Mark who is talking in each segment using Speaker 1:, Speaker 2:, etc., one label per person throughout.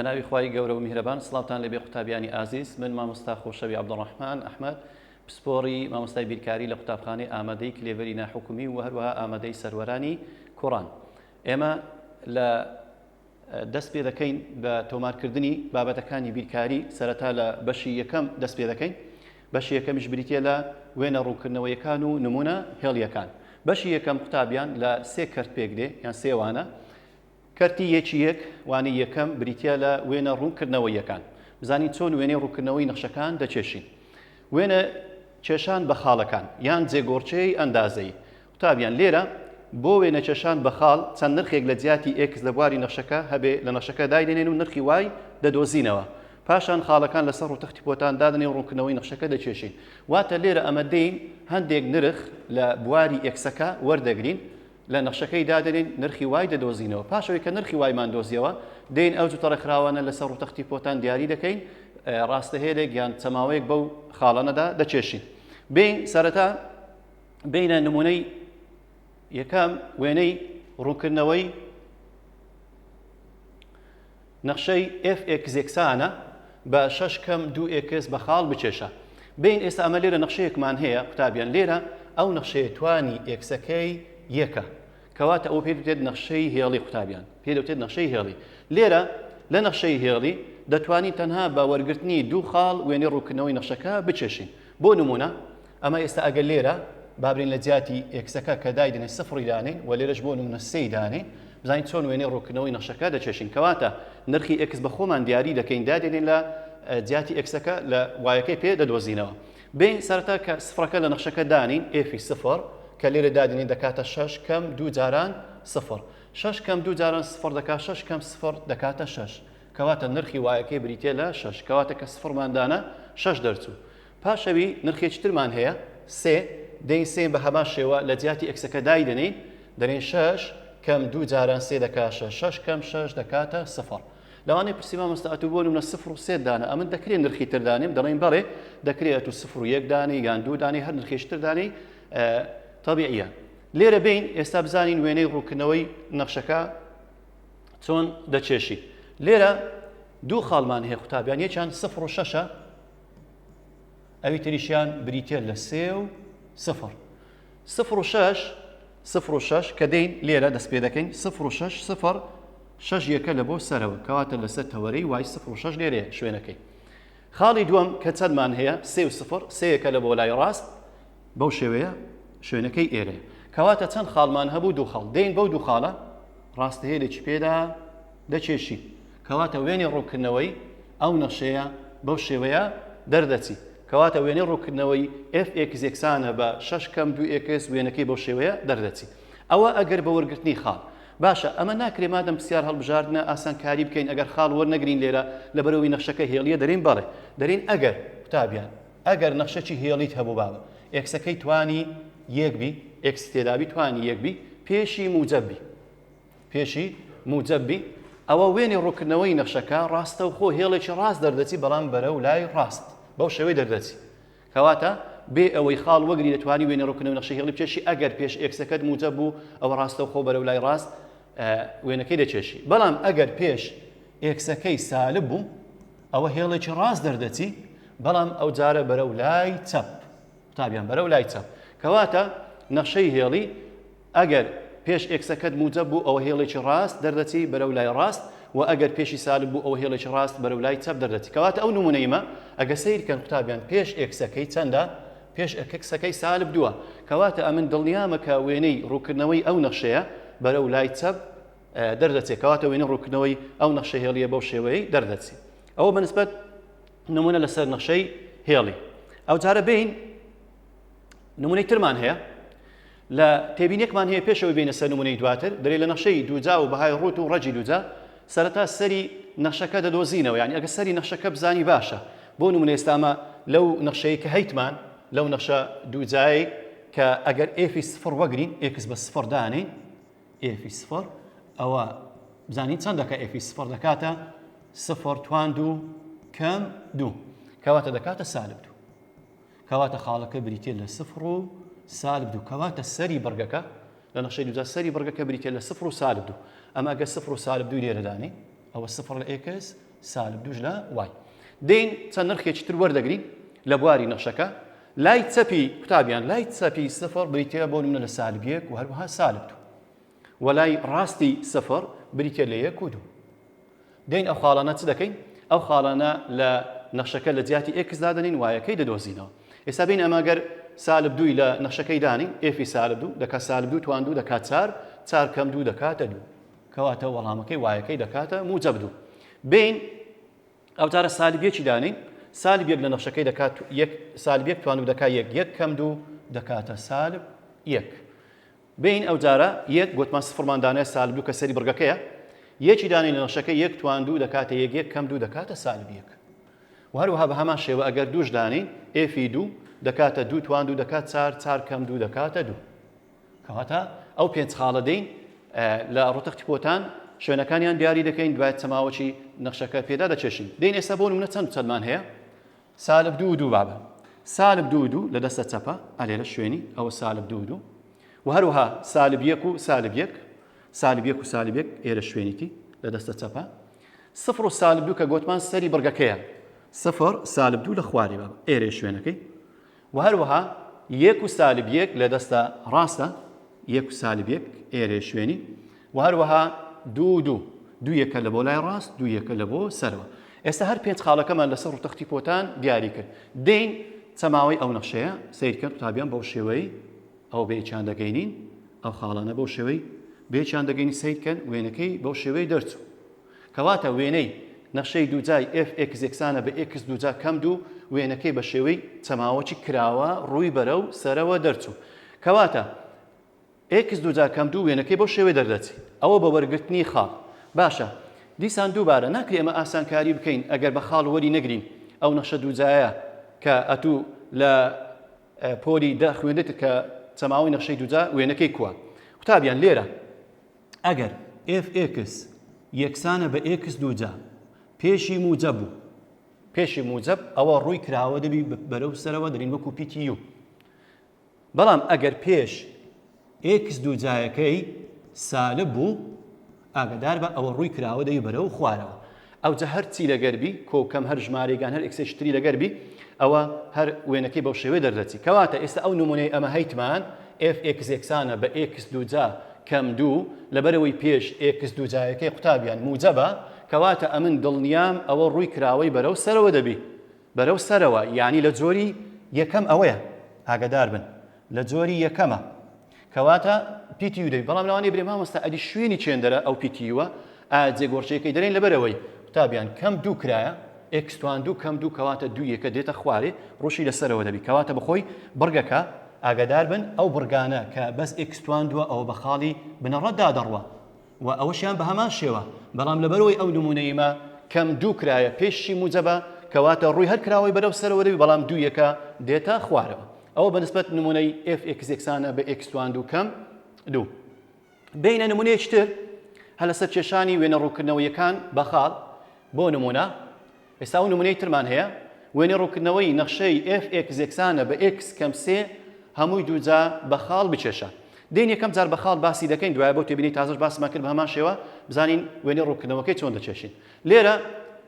Speaker 1: بەناوی خی گەورە و میهرەبان سلااوان لەبێ قوتابیانی ئازیز من مامۆستا خۆشەوی عبدڕحمان ئەحمد پسپۆری مامۆستای بیرکاری لە قوتابخانەی ئامادەی کلێڤری ناحکومی و هەروەها ئامادەی سەرەرانی کوڕان ئێمە لە دەست پێ دەکەین بە تۆمارکردنی بابەتەکانی بیرکاری سەرەتا لە بەشی یەکەم دەست پێ دەکەین بەشی یەکەمیش بریتە لە وێنە ڕوونکردنەوەیەکان و نمونە هێڵیەکان بەشی یەکەم قوتابیان لە سێ کەرت پێک دێ یان سێوانە کەرتی یەکی یەک وانی یەکەم بریتە لە وێنە ڕوونکردنەوە یەکان بزانین چۆن وێنەی ڕووکردنەوەی نەخشەکان دەچێشین وێنە کێشان بە خاڵەکان یان جێگۆڕچەی ئەندازەی قوتابیان، لێرە بۆ وێنەکێشان بە خاڵ چەند نرخێک لە جیاتی ئێکس لە بواری نەخشەکە هەبێ لە نەخشەکە دایدەنێن و نرخی وای دەدۆزینەوە. پاشان خاڵەکان لەسەر ڕووتەختی پۆتان دادەنێن و ڕوونکردنەوەی نەخشەکە دەکێشین. واتە لێرە ئەمە دێین هەندێک نرخ لە بواری ئێکسەکە وەردەگرین، لە نەخشەکەی دادەنێین، نرخی وای دەدۆزینەوە. پاشەوەی کە نرخی وایمان دۆزیەوە، دێین ئەو جووتە ڕێکخراوانە لەسەر ڕووتەختی پۆتان دیاری دەکەین، ڕاستەهێلێک یان چەماوەیەک بەو خاڵانەدا دەکێشین. بێین سەرەتا بینە نمونەی یەکەم وێنەی ڕوونکردنەوەی نەخشەی FXێکسانە بە شش کەم دو ئێکس بە خاڵ بچێشە بین ئێستا ئەمە لێرە نەخشەیەکمان هەیە قوتابیان لێرە ئەو نەخشەیە توانی ئێکسەکەی یەکە کەواتە ئەو پێ دێت نەخشەی هێڵی قوتابیان پێ دەوتێت نەخشەی هێڵی لێرە لە نەخشەی هێڵی دەتوانین تەنها بە وەرگرتنی دوو خاڵ وێنەی ڕووکردنەوەی نەخشەکە بچێشین بۆ نمونە ئەمە ئێستا ئەگەر لێرە بابرین لە جیاتی ئێکسەکە کە دایدنێ سفڕی دانێ و لێرەش بۆ نمونە سێی دانێ بزانین چۆن وێنەی ڕوونکردنەوەی نەخشەکە دەکێشین کەواتە نرخی ئێکس بە خۆمان دیاری دەکەین دادێنین لە جیاتی ئێکسەکە لە وایەکەی پێ دەدۆزینەوە بێ سەرەتا کە سفڕەکە لە نەخشەکە دانین ئێفی سفر کە لێرە دادنین دەکاتە شش کەم دوو جاران سفر شش کەم دوو جاران سفر دەکات شش کەم سفر دەکاتە شش کەواتە نرخی وایەکەی بریتە لە شش کەواتە کە سفرماندانە شش دەرچوو پاش ئەوی نرخێکی ترمان هەیە، سێ، دەین سێ بە هەمان شێوە لە جیاتی ئێکسەکە دایدەنێین، دەلێین شەش کەم دوو جاران سێ دەکا شەش، شەش کەم شەش دەکاتە سفر. لەوانەیە پرسی مامۆستا ئەتوو بۆ نمونە سفر و سێت دانە، ئەمن دەکرێ نرخی تر دانێم، دەڵێین بەڵێ دەکرێ ئەتوو سفر و یەک دانێی یان دوو دانێی هەر نرخێکی تر دانێی تەبیعیە. لێرە بێین ئێستا بزانین وێنەی ڕوونکردنەوەی نەخشەکە چۆن دەکێشین. لێرە دوو خاڵمان هەیە قوتابیان، یەکیان سفر و شەشە، ئەوی تریشیان بریتە لە سێ و سفر سفر و شەش سفر و شەش کە دەین لێرە دەست پێ دەکەین سفر و شەش سفر شەش یەکە لە بۆ سەرەوە کەواتە لەسەر تەوەرەی وای سفر و شەش لێرێ شوێنەکەی خاڵی دووەم کە چەندمان هەیە سێ و سفر سەیەکە لە بۆ لای ڕاست بەو شێوەیە شوێنەکەی ئێرێ کەواتە چەند خاڵمان هەبوو دوو خاڵ دەین بەو دوو خاڵە ڕاستەیە لێکی پێدا دەکێشی، کەواتە وێنەی ڕوونکردنەوەی ئەو نەخشەیە بەو شێوەیە دەردەچی، کەواتە وێنەی ڕوونکردنەوەی ئێف ئێکس یەکسانە بە شەش کەم دوو ئێکس وێنەکەی بەو شێوەیە دەردەچی. ئەوە ئەگەر بە وەرگرتنی خاڵ. باشە ئەمە ناکرێ مادەم پرسیار هەڵبژاردنە ئاسانکاری بکەین ئەگەر خاڵ وەرنەگرین لێرە لەبەرئەوەی نەخشەکە هێڵییە دەلێین بەڵێ دەلێین ئەگەر قوتابیان ئەگەر نەخشەکی هێڵیت هەبوو بابە ئێکسەکەی توانی یەک بی ئێکست تێدابی توانی یەک بی پێشی موجەب بی پێشی موجەب بی ئەوە وێنی ڕووکردنەوەی نەخشەکە ڕاستەوخۆ هێڵێکی ڕاست دەردەچی بەڵام بەرەو لای ڕاست بەو شێوەی دەردەچی کەواتە بێ ئەوەی خاڵ وەگری دەتوانی وێنە ڕوکنەوە نەخشە هێڵی بچێشی ئەگەر پێش ئێکسەکەت موجە بوو ئەوە ڕاستە خۆ بەرەو لای ڕاست وێنەکەی دەچێشی بەڵام ئەگەر پێش ئێکسەکەی سالب بوو ئەوە هێڵێکی ڕاست دەردەچی بەڵام ئەو جارە بەرەو لای چەپ قوتابیان بەرەو لای چەپ کەواتە نەخشەی هێڵی ئەگەر پێش ئێکسەکەت موجەب بوو ئەوە هێڵێکی ڕاست دەردەچی بەرەو لای ڕاست وە ئەگەر پێشی سالب بوو ئەوە هێڵێکی ڕاست بەرەو لای چەپ دەردەچی کەواتە ئەو نمونەیمە ئەگە سەیر کەن قوتابیان پێش ئێکسەکەی چەندە پێش ئەکسەکەی سالب دووە کەواتە ئەمن دڵنیامە کە وێنەی ڕووکردنەوەی ئەو نەخشەیە بەرەو لای چەپ دەردەچێت کەواتە وێنە ڕووکردنەوەی ئەو نەخشە هێڵیە بەو شێوەیەی دەردەچی ئەوە بەنسبەت نمونە لەسەر نەخشەی هێڵی ئەو جارە بین نمونەی ترمان هەیە لە تێبینێکمان هەیە پێش ئەوەی بێینە سەر نموونەی دواتر، برێ لە نەخشەی دووجا و بەهای ڕووت و ڕەگی دووجا سەرەتا سەری نەخشەکە دەدۆزینەوە یانی ئەگەر سەری نەخشەکە بزانی باشە بۆ نموونە ئێستا ئەمە لەو نەخشەی کە هەیتمان لەو نەخشە دووجایەی کە ئەگەر ئێفی سفڕ وەگرین ئێکس بە سفڕ دانین ئێفی سفڕ ئەوە بزانین چەند دەکە ئێفی سفڕ دەکاتە سفڕ توان دوو کەم دوو کەواتە دەکاتە سالب دوو کەواتە خاڵەکە بریتیە لە سفر و سالب دوو کەواتە سەری بڕگەکە لە نەخشەی دوودا سەری بڕگەکە بریتیە لە سفر و سالب دوو ئەمە ئەگە سفر و سالب دوو لێرەدانی ئەوە سفر لە ئێکس سالب دووش لە وای دین چەند نرخێکی تر وەردەگرین لە بواری نەخشەکە لای چەپی قوتابیان لای چەپی سفر بریتە بۆ منە لە سالبیەک و هەروها سالب دوو وەلای ڕاستی سفر بریتیە لە یەک و دوو. دێین ئەو خاڵانە چ دەکەین؟ ئەو خاڵانە لە نەخشەکە لە جیاتی ئێکس دادەنین وایەکەی دەدۆزینەوە. ئێستا بین ئەمە گەر سالب دووی لە نەخشەکەی دانین ئێفی سالب دوو دەکات سالب دوو توان دوو دەکات چار چار کەم دوو دەکاتە دوو کەواتە وەڵامەکەی وایەکەی دەکاتە موجب دوو بین ئەو جارە سالب یەکی دانین سالب یەک لە نەخشەکەی دەکات یەک سالب یەک توان و دەکات یەک یەک کەم دوو دەکاتە سالب یەک بێین ئەو جارە یەک گۆتمان سفڕمان دانێ سالب دوو کە سەری بڕگەکەیە یەکی دانێ لە نەخشەکە یەک توان دوو دەکاتە یەک یەک کەم دوو دەکاتە سالب یەک و هەروەها بە هەمان شێوە ئەگەر دووش دانین ئێفی دوو دەکاتە دوو توان دوو دەکات چار چار کەم دوو دەکاتە دوو کەواتە ئەو پێنج خاڵە دەین لە ڕتەختی پۆتان شوێنەکانیان دیاری دەکەین دوای چەماوەی نەخشەکە پێدا دەچێشین دین ئێستا بۆ منە چەند چەندمان هەیە سالب دوو و دوو بابە سالب دوو و دوو لە دەستە چەپە ئەلێرە شوێنی ئەوە سالب دوو و دوو و هەروەها سالب یەک و سالب یەک سالب یەک و سالب یەک ئێرە شوێنیتی لە دەستە چەپە سفر و سالب دوو کە گوتمان سەری بڕگەکەیە سفر سالب دوو لە خوارێ بابە ئێرە شوێنەکەی وە هەروەها یەک و سالب یەک لە دەستە ڕاستە یەک و سالب یەک ئێرێ شوێنی وە هەروەها دوو دوو دوو یەکە لە بۆ لای ڕاست دوو یەکە لە بۆ سەرەوە ئێستا هەر پێنج خاڵەکەمان لەسەر ڕوتەختی پۆتان دیاری کرد دین چەماوەی ئەو نەخشەیە سیرکە قوتابیان بەو شێوەی ئەو بێچان دەگەینین ئەو خاڵانە بەو شێوەی بێچان دەگەینی سیرکەن وێنەکەی بەو شێوەی دەرچوو کەواتە وێنەی نەخشەی دووجای ئێف ئێکس یەکسانە بە ئێکس دووجا کەم دوو، وێنەکەی بە شێوەی چەماوەکی کراوە ڕووی بەرەو سەرەوە دەرچوو. کەواتە ئێکس دووجا کەم دوو وێنەکەی بەو شێوەیە دەردەچێ. ئەوە بە وەرگرتنی خاڵ. باشە دیسان دووبارە ناکرێ ئێمە ئاسانکاری بکەین ئەگەر بە خاڵ وەری نەگرین ئەو نەخشە دووجایە کە ئەتوو لە پۆلی دە خوێندتت کە چەماوەی نەخشەی دووجا وێنەکەی کووە؟ قوتابیان لێرە. ئەگەر ئێف ئێکس یەکسانە بە ئێکس دووجا پێشی موجەب و پێشی موجەب ئەوە ڕووی کراوە دەبی بەرەو سەرەوە دەرین وەکو پیتی یو بەڵام ئەگەر پێش ئێکس دووجایەکەی سالب بوو ئاگدار بە ئەوە ڕووی کراوە دەی بەرەو خوارەوە ئەوجە هەر چی لەگەر بی کۆ و کەم هەر ژمارەیک یان هەر ئێکسێکی تری لەگەر بی ئەوە هەر وێنەکەی بەو شێوەیە دەردەچی کەواتە ئێستا ئەو نمونەی ئەمە هەیتمان ئێف ئێکس یەکسانە بە ئێکس دووجا کەم دوو لەبەرئەوەی پێش ئێکس دووجایەکەی قوتابیان موجەبە کەواتە ئەمن دڵنیام ئەوە ڕووی کراوەی بەرەو سەرەوە دەبی بەرەو سەرەوە یانی لە جۆری یەکەم ئەوەیە ئاگەدار بن لە جۆری یەکەمە. کەواتە پی تی یو دەبی بەڵام لەوانەیە برێ مامۆستا ئەدی شوێنی چێندەرە ئەو پی تی یوە ئا جێگۆڕچێکەی دەرێن لەبەرەوەی قوتابیان کەم دوو کرایە ئێکس توان دوو کەم دوو کەواتە دوو یەکە دێتە خوارێ ڕوشی لەسەرەوە دەبی کەواتە بەخۆی بڕگەکە ئاگادار بن ئەو بڕگانە کە بەس ئێکس توان دووە ئەوە بە خاڵی بنەڕەتدا دەڕوا وە ئەوەشیان بەهەمان شێوە بەڵام لەبەرئەوەی ئەو نمونەی مە کەم دوو کرایە پێشی موجەبە کەواتە ڕوی هەر کراوەی بەرەو سەرەوە دەبی بەڵام دوو یەکە دێتە خوارەوە ئەوە بەنسبەت نمونەی ئێف ئێکس یەکسانە بە ئێکس توان دوو کەم دوو بینە نمونەیەکی تر هەلەسەر کێشانی وێنە ڕوکردنەوەیەکان بەخاڵ بۆ نمونە ئێستا ئەو نمونەی ترمان هەیە وێنەی ڕوونکردنەوەی نەخشەی ئێف ئێکس یەکسانە بە ئێکس کەم سێ هەمووی دووجا بە خاڵ بکێشە. دێین یەکەم جار بە خاڵ باسی دەکەین دوایە بۆ تێبینی تازەش باسمان کرد بە هەمان شێوە بزانین وێنەی ڕوونکردنەوەکەی چۆن دەکێشین. لێرە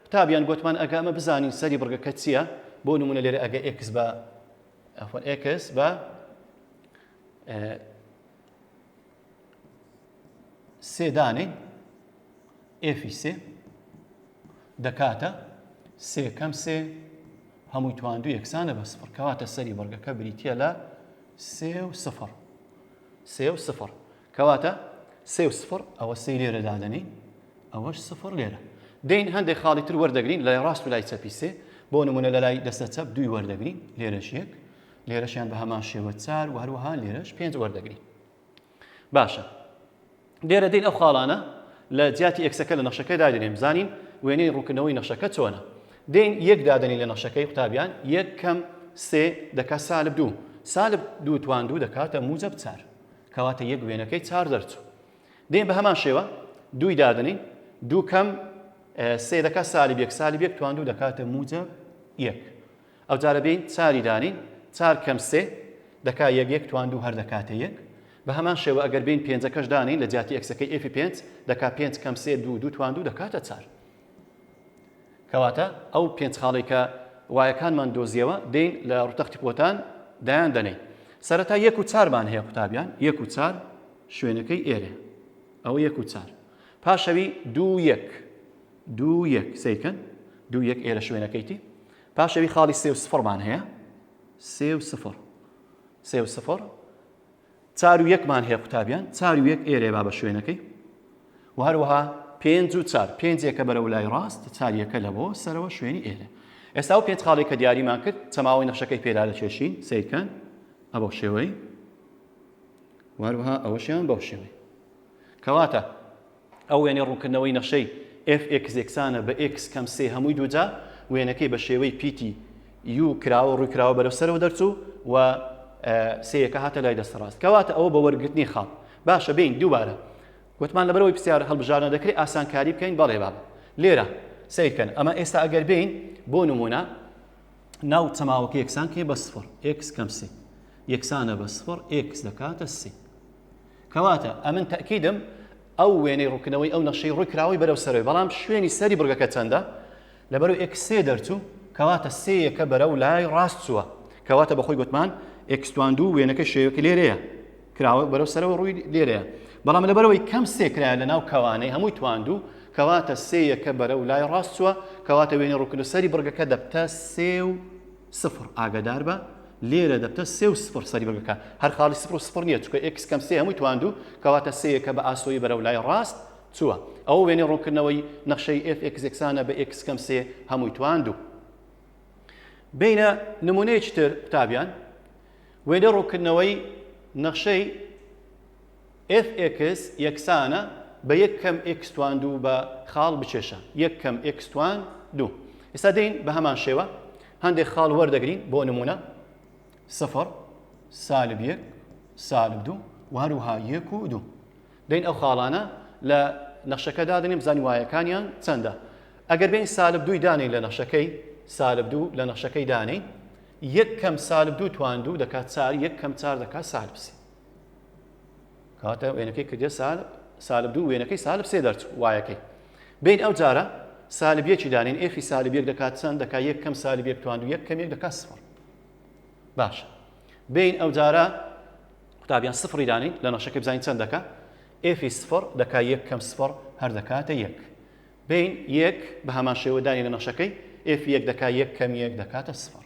Speaker 1: قوتابیان گۆتمان ئەگە ئەمە بزانین سەری بڕگەکە چییە بۆ نمونە لێرە ئەگە ئێکس بە ئەفۆن ئێکس بە سێ دانەی ئێفی سێ دەکاتە سێ کەم سێ هەمووی تواندو یەکسانە بە سفر کەواتە سەری بەڵگەکە بریتە لە سێ و سفر سێ و سفر کەواتە سێ و سفر ئەوە سێ لێرە دادەنین ئەوەش سفر لێرە دەین هەندێک خاڵی تر وەردەگرین لای ڕاست و لای چەپی سێ بۆ نمونە لە لای دەستە چەپ دوی وەردەگرین لێرەش یەک لێرەشیان بە هەمان شێوە چار و هەروەها لێرەش پێنج وەردەگرین باشە لێرە دین ئەو خاڵانە لە جیاتی ئێکسەکە لە نەخشەکە دادێنێ بزانین وێنەی ڕوونکردنەوەی نەخشەکە چۆنە دین یەک دادەنی لە نەخشەکەی قوتابیان یەک کەم سێ دەکات سالب دوو سالب دوو توان دوو دەکاتە موجب چار کەواتە یەک وێنەکەی چار دەرچوو دین بە هەمان شێوە دووی دادنی دوو کەم سێ دەکات سالب یەک سالب یەک توان دوو دەکاتە موجب یەک ئەوجارە بێین چاری دانێین، چار کەم سێ دەکا یەک، یەک توان دوو هەر دەکاتە یەک. بە هەمان شێوە ئەگەر بێین پێنجەکەش دانێین لە جیاتی ئێکسەکەی ئێفی پێنج دەکا پێنج کەم سێ دوو، دوو توان دوو دەکاتە چار. کەواتە ئەو پێنج خاڵەی کە وایەکانمان دۆزیەوە دێین لە ڕووتەختی پۆتان دایان دەنێین. سەرەتا یەک و چارمان هەیە قوتابیان، یەک و چار شوێنەکەی ئێرەیە. ئەوە یەک و چار. پاشەوی دوو یەک، دوو یەک سەیرکەن، دوو یەک ئێرە شوێنەکەیتی. پاش ئەوی خاڵی سێ و سفڕمان هەیە سێ و سفڕ سێ و سفڕ چار و یەکمان هەیە قوتابیان چار و یەک ئێرێ با بە شوێنەکەی و هەروەها پێنج و چار پێنجێکە بەرە و لای ڕاست چاریەکە لە بۆ سەرەوە شوێنی ئێرە ئێستا و پێنج خاڵێکە دیاریمان کرد چەماوەی نەخشەکەی پێدا لە چێشین سیرکەن ئەبە شێوەی وهروها ئەوەشیان بەو شێوەی کەواتە ئەو وێنەی ڕوونکردنەوەی نەخشەی ئێف ئێکس یەکسانە بە ئێکس کەم سێ هەمووی دووجا، وێنەکەی بە شێوەی پیتی یوو کراوە ڕووی کراوە بەرەو سەرەوە دەرچوو و سێیەکە هاتە لای دەستە ڕاست کەواتە ئەوە بە وەرگرتنی خاڵ باشە بێین دووبارە گوتمان لەبەرەوەی پرسیار هەڵبژاردنە دەکرێ ئاسانکاری بکەین بەڵێ بابە لێرە سەیرکەن ئەمە ئێستا ئەگەر بێین بۆ نمونە ناو چەماوەکە یەکسان کێ بە سفر ئێکس کەم سێ یەکسانە بە سفر ئێکس دەکاتە سێ کەواتە ئەمن تەئکیدم ئەو وێنەی ڕوونکردنەوەی ئەو نەخشەی ڕووی کراوەی بەرەو سەرەوەی بەڵام شوێنی سەری بڕگەکە چەندە لەبەرو ئێکس سێ دەرچوو کەواتە سێیەکە بەرەو لای ڕاست چووە کەواتە بەخۆی گوتمان ئێکستوان دوو وێنەکە شێوەکە لێرەیە کراوە بەرەو سەرەوە ڕووی لێرەیە بەڵام لەبەرەوەی کەم سێکرایە لە ناو کەوانەی هەمووی تواندوو کەواتە سێیەکە بەرەو لای ڕاست چووە کەواتە وێنەی ڕووکردنەوەی سەری بڕگەکە دەبتە سێ و سفر ئاگادار بە لێرە دەبتە سێ و سفر سەری بەگەکان هەر خاڵی سفر و سفر نییە چونکە ئێکس کەم سێ هەمووی تواندوو کەواتە سێیەکە بە ئاسۆیی بەرەو لای ڕاست چووە ئەوە وێنەی ڕوونکردنەوەی نەخشەی ئێف ئێکس یەکسانە بە ئێکس کەم سێ هەمووی تواندوو بینە نمونەیەکی تر قوتابیان وێنەی ڕوونکردنەوەی نەخشەی ئێف ئێکس یەکسانە بە یەک کەم ئێکس توان دوو بە خاڵ بکێشە یەک کەم ئێکس توان دوو. ئێستا دێین بە هەمان شێوە هەندێک خاڵ وەردەگرین بۆ نموونە سفر سالب یەک سالب دوو و هەروها یەک و دوو. دێین ئەو خاڵانە لە نەخشەکە دادەنێم بزانین وایەکانیان چەندە. ئەگەر بێین سالب دووی دانێین لە نەخشەکەی سالب دوو لە نەخشەکەی دانێین یەک کەم سالب دوو توان دوو دەکات چار یەک کەم چار دەکات سالب سێ. کاتە وێنەکەی کردە سال سالب دوو وێنەکەی سالب سێ دەرچوو وایەکەی بین ئەو جارە سالبیەکی دانین ئێخی سالبیەک دەکات چەند دەکا یەک کەم سالبیەک توان و یەک کەمێک دەکات سفر باش بین ئەو جارە قوتابیان سفری دانین لە نەشەکە بزانین چەند دەکە ئێفی سفر دەکا یەک کەم سفر هەر دەکاتە یەک بین یەک بە هەمان شێوەدانی لە نەشەکەی ئێفی یەک دەکا یەک کەم یەک دەکاتە سفر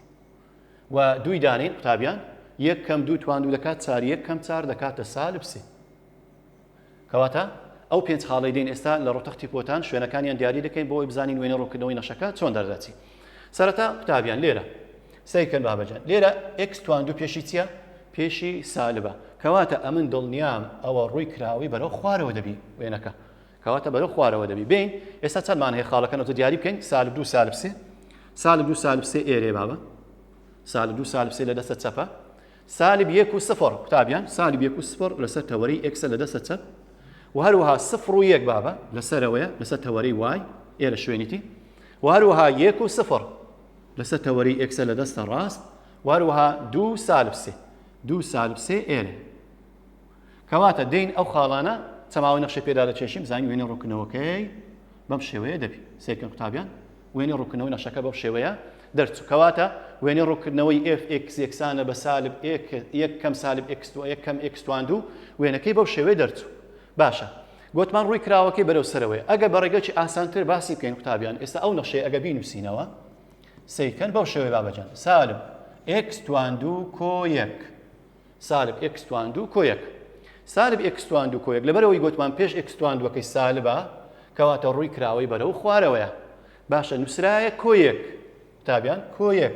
Speaker 1: و دووی دانین قوتابیان یەک کەم دوو توان دوو دەکات چار یەک کەم چار دەکاتە سالب سێ کەواتە ئەو پێنج خاڵەی دێن ئێستا لە ڕۆتەختی پۆتان شوێنەکانیان دیاری دەکەین بۆ ئەوی بزانین وێنە ڕوونکردنەوەی نەشەکە چۆن دەردەچی سەرەتا قوتابیان لێرە سەیرکەن بابەجان لێرە x توان دوو پێشی چییە پێشی سالبە کەواتە ئەمن دڵنیام ئەوە ڕووی کراوەی بەرەو خوارەوە دەبی وێنەکە کەواتە بەرەو خوارەوە دەبی بێین ئێستا چەند مان هەیە خاڵەکە نەوتە دیاری بکەین سالب دوو سالب سێ سالب دوو سالب سێ ئێرێ بابە سالب دوو سالب سێ لە دەستە چەپە سالب یەک و سفر قوتابیان سالب یەک و سفر لەسەر تەوەری ئێکسە لە دەستە چەپ و هەروەها سفر و یەک بابە لەسەرەوەیە لەسەر تەوەری وای ئێرە شوێنیتی و هەروەها یەک و سفر لەسەر تەوەری ئێکسە لە دەستە ڕاست و هەروەها دوو سالب سێ دوو سالب سێ ئێرێ کەواتە دین ئەو خاڵانە چەماوەی نەخشەی پێدا دەکێشین بزانین وێنەی ڕوونکردنەوەکەی بەم شێوەیە دەبین سێکن قوتابیان وێنەی ڕوونکردنەوەی نەخشەکە بەم شێوەیە دەرچوو کەواتە وێنەی ڕوونکردنەوەی ئێف ئێکس یەکسانە بە سالب یەک کەم سالب ئێکس یەک کەم ئێکستوان دوو وێنەکەی بەو شێوەیە دەرچوو باشە گوتمان ڕووی کراوەکەی بەرەو سەرەوەی ئەگە بە ڕێگەی ئاسانتر باسی بکەین قوتابیان ئێستا ئەو نەخشەی ئەگە بینوسینەوە سیکەن بەو شێوەی بابەجان سالب ئێکس توان دوو کۆ یەک سالب ئێکس توان دوو کۆ یەک سالب ئێکس توان دوو کۆ یەک لەبەرەوەی گوتمان پێش ئێکس توان دووەکەی سالبە کەواتە ڕووی کراوەی بەرەو خوارەوەیە باشە نووسرایە کۆ یەک تابیان کۆ یەک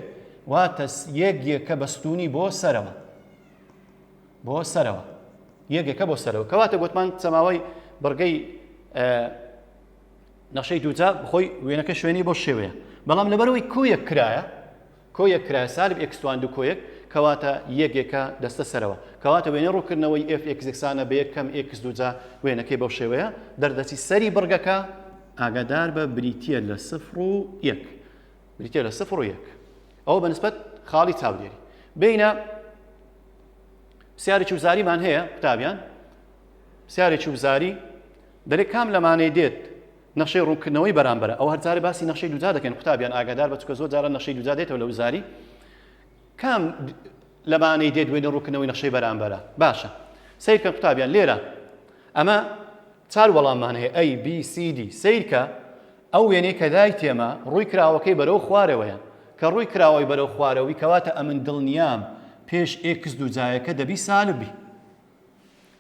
Speaker 1: واتە یەک یەکە بەستونی بۆ سەرەوە بۆ سەرەوە یەکێکە بۆ سەرەوە کەواتە گوتمان سەماوەی بڕگەی نەشەی دووجا بخۆی وێنەکە شوێنی بۆ شێوەیە بەڵام لەبەرەوەی کویەک کرایە کۆیەک کرایە سالب ئێکس توان دوو کۆیەک کەواتە یەک یەکە دەستە سەرەوە کەواتە وێنەی ڕووکردنەوەی ئێف ئێکس یەکسانە بە یەک کەم ئێکس دوو جا وێنەکەی بەو شێوەیە دەردەچی سەری بڕگەکە ئاگادار بە بریتییە لە سفر و یەک بریتییە لە سفر و یەک ئەوە بە نسبەت خاڵی چاودێری بینە پرسیارێکی وزاریمان هەیە قوتابیان پرسیارێکی وزاری دەرێ کام لەمانەی دێت نەخشەی ڕوونکردنەوەی بەرامبەرە ئەوە هەرجارە باسی نەخشەی دووجا دەکەین قوتابیان ئاگادار بە چونکە زۆر جارە نەخشەی دووجا دێتەوە لە وزاری کام لەمانەی دێت وێنە ڕوونکردنەوەی نەخشەی بەرامبەرە باشە سیرکە قوتابیان لێرە ئەمە چار وەڵاممان هەیە ئەی بی سی دی سیرکە ئەو وێنەی کە دای تێمە ڕووی کراوەکەی بەرەو خوارەوەیە کە ڕووی کراوەی بەرەو خوارەوەی کەواتە ئەمن دڵنیام پێش ئێکس دووجایەکە دەبی سالبی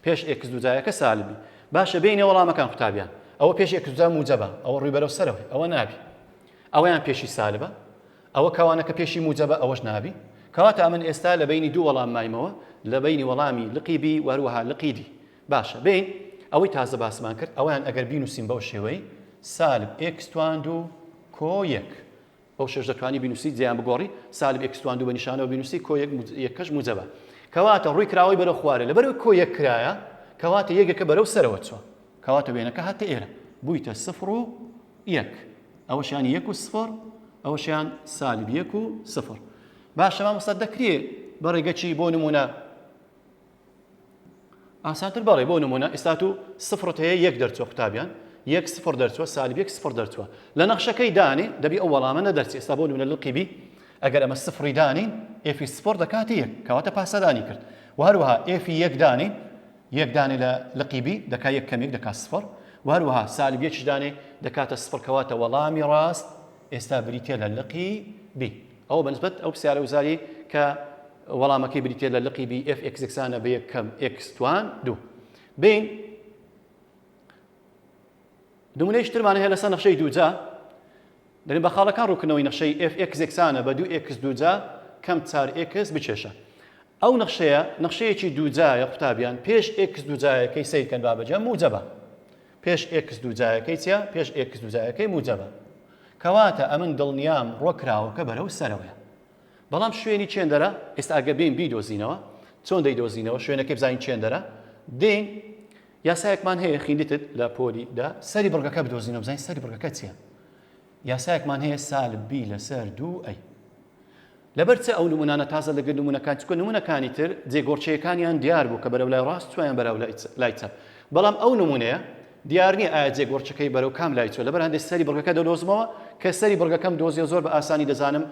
Speaker 1: پێش ئێکس دوجایەکە سالبی باشە بینە وەڵامەکان قوتابیان ئەوە پێش ئێکس دوجا موجەبە ئەوە ڕووی بەرەو سەرەوەی ئەوە نابی ئەویان پێشی سالبە ئەوە کەوانەکە پێشی موجەبە ئەوەش نابی کەواتە ئەمن ئێستا لە بینی دوو وەڵام مایمەوە لە بینی وەڵامی لقی بی وەروەها لقی دی باشە بین ئەوەی تازە باسمان کرد ئەویان ئەگەر بینوسین بەو شێوەی سالب ئێکس توان دوو کۆ یەک بەوشەش دەتوانی بینوسی جێیان بگۆڕی سالب ئێکس توان دوو بە نیشانەوە بینوسی کۆ یەک یەکەش موجەبە کەواتە ڕوی کراوەی بەرەو خوارێ لەبەرەوەی کۆ یەک کرایە کەواتە یەکەکە بەرەو سەرەوە چوە کەواتە وێنەکە هاتە ئێرە بویتە سفر و یەک ئەوەشیان یەک و سفر ئەوەشیان سالب یەک و سفر باشە مامۆستا دەکرێ بە ڕێگەچی بۆ نمونە ئاسانتر بەڵێ بۆ نمونە ئێستا و سفرت هەیە یەک دەرچوە قوتابیان یەک سفر دەرچوە سالب یەک سفر دەرچوە لە نەخشەکەی دانێ دەبی ئەو وەڵامە نەدەرچ ئێستا بۆ نمونە لەڵقی بی ئەگەر ئەمە سفری دانین ئفی سفر دەکاتی یەک کەواتە پاسەدانی کرد و هەروەها ئفی یەک دانین یەک دانێ لە لقی بی دەکا یەک کەمێک دەکات سفر و هەروەها سالب یەکیش دانێ دەکاتە سفر کەواتە وەڵامی ڕاست ئێستا بریتە لە لقی بی ئەو بەنسبەت ئەو پرسیارە وزاری کە وەڵامەکەی بریتیە لە لقی بی ئێف ئێکس یەکسانە بە یەک کەم ئێکس توان دوو بین نمونەیش ترمانە هەیە لەسەر نەخشەی دووجا دەێن بە خاڵەکان ڕووکنەوەی نەخشەی ئێف ئێکس یەکسانە بە دوو ئێکس دووجا کەم چار ئێکس بچێشە ئەو نەخشەیە نەخشەیەکی دووجایە قوتابیان پێش ئێکس دووجایەکەی سیرکەن بابەجە موجەبە پێش ئێکس دووجایەکەی چیا پێش ئێکس دووجایەکەی موجەبە کەواتە ئەمن دڵنیام ڕۆکراوەکە بەرەو سەرەوەیە بەڵام شوێنی چێندەرە ئێستا ئەگە بێین بیدۆزینەوە چۆن دەیدۆزینەوە شوێنەکەی بزانین چێندەرە دێین یاسایەکمان هەیە خیلیتت لە پۆلی دا سەری بڕگەکە بدۆزینەوە بزانین سەری بڕگەکە چییە یاسایەکمان هەیە سالب بی لەسەر دوو ئەی لەبەر چ ئەو نمونانە تازە لەگر نمونونەکان چکە نمونونەکانی تر جێگۆڕچەکانیان دیار بوو کە بەرەو لای ڕاست چیان بەرەو لای چەپ بەڵام ئەو نمونەیە دیار نییە ئایا جێک وڕچەکەی بەرەو کام لای چووە لەبەر هەندێک سەری بڕگەکە دەدۆزمەوە کە سەری بڕگەکەم دۆزیەوە زۆر بە ئاسانی دەزانم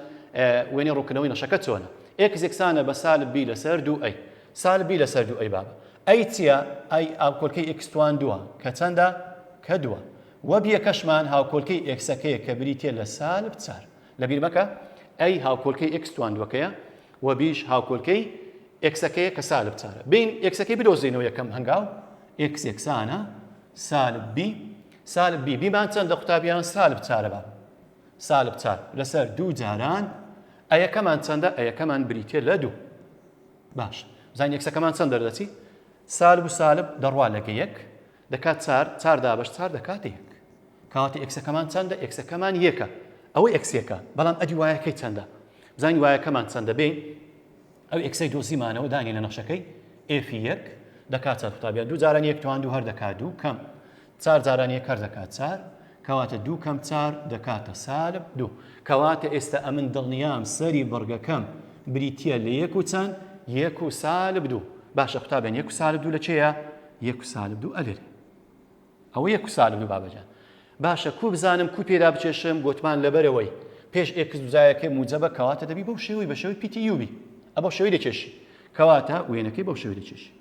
Speaker 1: وێنەی ڕوونکردنەوەی نەشەکە چۆنە ئێکس یەکسانە بە سالب بی لەسەر دوو ئەی سالب بی لەسەر دوو ئەی بابە ئەی چییە ئەی ئاوکۆلکەی ئێکس توان دووە کە چەندە کە دووە وە بیەکەشمان هاوکۆلکەی ئێکسەکەیە کە بریتە لە سالب چار لەبیر مەکە ئەی هاوکۆلکەی ئێکس توان دووەکەیە وە بیش هاوکۆلکەی ئێکسەکەیە کە سالب چارە بین ئێکسەکەی بدۆزینەوە یەکەم هەنگاو ئێکس یەکسانە سالب بی سالب بی بیمان چەندە قوتابیان سالب چارە بە سالب چار لەسەر دوو جاران ئەیەکەمان چەندە ئەیەکەمان بریتە لە دوو باش زان یەکسەکەمان چەند دەردەچی سالب و سالب دەڕوا لەگە یەک دەکات چار چار دابش چار دەکات یەک کاتی ئەکسەکەمان چەندە ئەکسەکەمان یەکە ئەوە ئەکسەکە بەڵام ئەدی وایەکەی چەندە زانی وایەکەمان چەندە بین ئەو ئێکسەی دۆزیمانەوە دانی لە نەخشەکەی ئێفی یەک. دەکا چار قوتابیان دوو جاران یەک توان دوو هەر دەکا دوو کەم چار جاران یەک هەر دەکا چار کەواتە دوو کەم چار دەکاتە سالب دوو کەواتە ئێستا ئەمن دڵنیام سەری بڕگەکەم بریتیە لە یەک و چەند یەک و سالب دوو باشە قوتابیان یەک و سالب دوو لە کێیە یەک و سالب دوو ئەلێرە ئەوە یە کوسالم لوبابە جان. باشە کو بزانم کو پێدا بچێشم گۆتمان لەبەرەوەی پێش ئێکس دوزایەکەی موجەبە کەواتە دەبی بەو شێوەی بە شێوەی پیتی یو بی ئە بەو شێوەی دەکێشی کەواتە وێنەکەی بەو شێوەی دەکێشی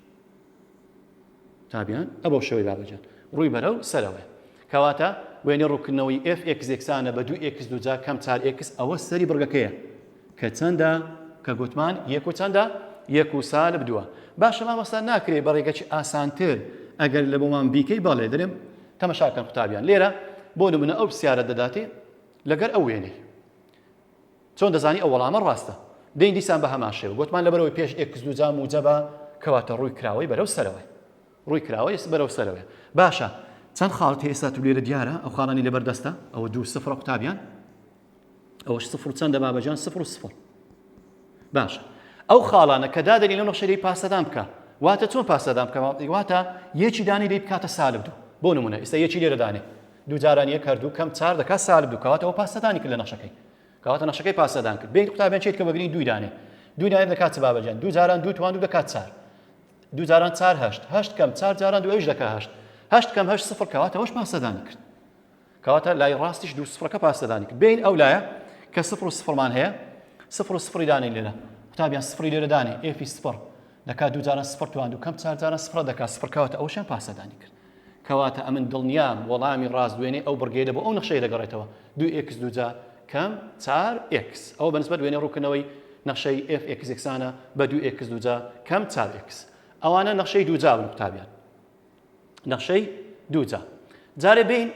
Speaker 1: تابیان ئە بەو شێوەی بابەجان ڕووی بەرە و سەرەوەی کەواتە وێنە ڕووکردنەوەی FX یەکسانە بە دوو ئێکس دوجا کەم چار ئێکس ئەوە سەری بڕگەکەیە کە چەندە کە گوتمان یەک و چەندە یەک و سالب دووە باشە مامۆستا ناکرێ بە ڕێگەچی ئاسانتر ئەگەر لە بۆمان بیکەی بەڵێ درم تەمەشاکەن قوتابیان لێرە بۆ نمونە ئەو پرسیارە دەداتێ لەگەر ئەو وێنەی چۆن دەزانی ئەو وەڵامە ڕاستە دەین دیسان بە هەمان شێوە گوتمان لەبەرەوەی پێش ئێکس دوو جام موجەبە کەواتە ڕووی کراوەی بەرەو سەرەوەی ڕووی کراوەی بەرەو سەرەوەی باشە چەند خاڵت ئێستا تو لێرە دیارە ئەو خاڵانی لەبەردەستە ئەوە دوو سفرە قوتابیان ئەوەش سفر چەندە بابەجان سفر و سفر باشە ئەو خاڵانە کە دادەنی لەو نەخشەی پاسەدان بکە واتە چۆن پاسەدان بکە واتە یەکی دانی لی بکاتە سالب دوو بۆ نمونە ئیستا یەکی لێرە دانێ دوو جاران یەک هەردوو کەم چار دەکا سالب دوو کەواتەوە پاسەدانی کرد لە نەخشەکەی کەواتە نەخشەکەی پاسەدان کرد بین قوتابیان چیت کە بەگرنی دوو دانێ دوو دانێ دەکات بابەجان دوو جاران دوو توان دوو دەکات چار دوو جاران چار هەشت هەشت کەم چار جاران دوو ئەوش دەکە هەشت هەشت کەم هەشت سفر کەواتەوەش پاسەدانی کرد کەواتە لای ڕاستیش دوو سفرەکە پاسەدانی کرد بین ئەو لایە کە سفر و سفرمان هەیە سفر و سفری دانێ لێرە قوتابیان سفری لێرە دانێ ئێفی سفر دەکات دوو جاران سفر توان و کەم چار جاران سفرە دەکات سفر کەواتە ئەوشیان پاسەدانی کرد کەواتە ئەمن دڵنیام وەڵامی ڕاست دوێنێ ئەو بڕگەیە بۆ ئەو نەخشەی دەگەڕێتەوە دوو ئکس دوجا کەم چار ئکس ئەو بەنسبەت وێنێ ڕووکنەوەی نەخشەی FX یەکسانە بە دوو ئکس دوجا کەم چار ئکس ئەوانە نەخشەی دووجا بن قوتابیان نەخشەی دووجا جارێ بین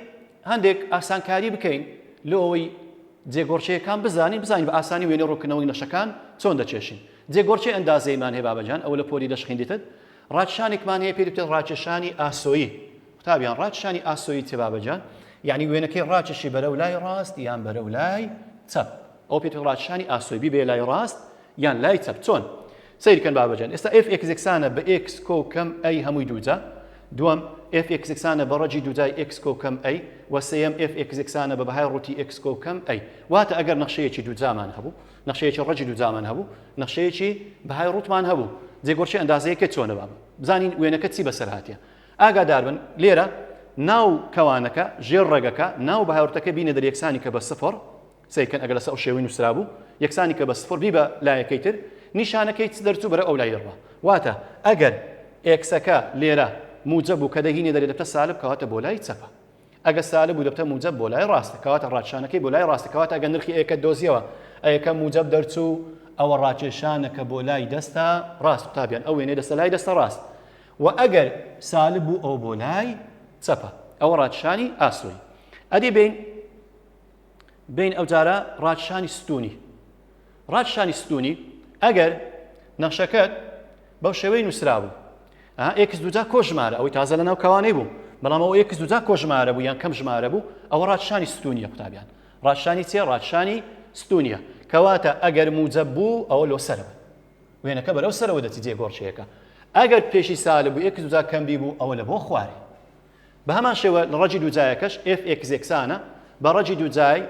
Speaker 1: هەندێک ئاسانکاری بکەین لۆ ئەوەی جێگۆڕچەیەکان بزانین بزانین بە ئاسانی وێنە ڕووکنەوەی نەشەکان چۆن دەچێشین جێگۆڕچی ئەندازەیمان هەیە بابەجان ئەوە لە پۆلی دەش خوێندیتت ڕاکشانێکمان هەیە پێ دەوتێت ڕاکێشانی ئاسۆیی قوتابیان ڕاکشانی ئاسۆیی چێ بابەجان یعنی وێنەکەی ڕاکێشی بەرە و لای ڕاست یان بەرە و لای چەپ ئەو پێ ڕاکشانی ئاسۆی ببێ لای ڕاست یان لای چەپ چۆن سەیر کەن بابە جان ئێستا ئێف ئێکس یەکسانە بە ئێکس کۆ کەم ئەی هەمووی دووجا دووەم ئێف ئێکس یەکسانە بە ڕەجی دووجای ئێکس کۆ کەم ئەی وە سێیەم ئێف ئێکس یەکسانە بە بەهای ڕووتی ئێکس کۆ کەم ئەی واتە ئەگەر نەخشەیەکی دووجامان هەبوو نەخشەیەکی ڕەجی دووجامان هەبوو نەخشەیەکی بەهای ڕووتمان هەبوو جێگۆرچی ئەندازەیەکە چۆنە بابە بزانین وێنەکە چی بەسەر هاتیە ئاگادار بن لێرە ناو کەوانەکە ژێر ڕێگەکە ناو بەهاورتەکە بینە دەریەکسانی کە بە سفر سەیر کەن ئەگەر لەسەر ئەو شێوەی نووسرابوو یەکسانی کە بە سفر بی بە لایەکەی تر نیشانەکەی چ دەرچوو بەرەو ئەو لای دەڕوا واتە ئەگەر ئێکسەکە لێرە موجەب بوو کە دەگینێ دەرێ دەبتە سالب کەواتە بۆ لای چەپە ئەگە سالب بوو دەبتە موجەب بۆ لای ڕاستە کەواتە ڕاکشانەکەی بۆ لای ڕاستە کەواتە ئەگە نرخی ئێکەت دۆزیەوە ئەیەکە موجەب دەرچوو ئەوە ڕاکێشانەکە بۆ لای دەستە ڕاست قوتابیان ئەو وێنەی دەستە لای دەستە ڕاست و ئەگەر سالب بوو ئەو بۆ لای چەپە ئەوە ڕاکشانی ئاسۆی ئەدی بین بین ئەوجارە ڕاکشانی ستونی ڕاکشانی ستونی ئەگەر نەخشەکەت بەو شێوەی نووسرابوو ئێکس دوجا کۆ ژمارە ئەوەی تازە لە ناو کەوانەی بوو بەڵام ئەو ئێکس دوجا کۆ ژمارە بوو یان کەم ژمارە بوو ئەوە ڕاکشانی ستونیە قوتابیان ڕاکشانی چێ ڕاکشانی ستونیە کەواتە ئەگەر موجە بوو ئەوە لۆ سەرەوە وێنەکە بەرەو سەرەوە دەچی جێگۆڕچەیەەکە ئەگەر پێشی سالە بوو ئێکس دوجا کەمبی بوو ئەوە لە بۆ خوارێ بە هەمان شێوە ڕەجی دووجایەکەش، ئێف ئێکس یەکسانە بە ڕەجی دووجای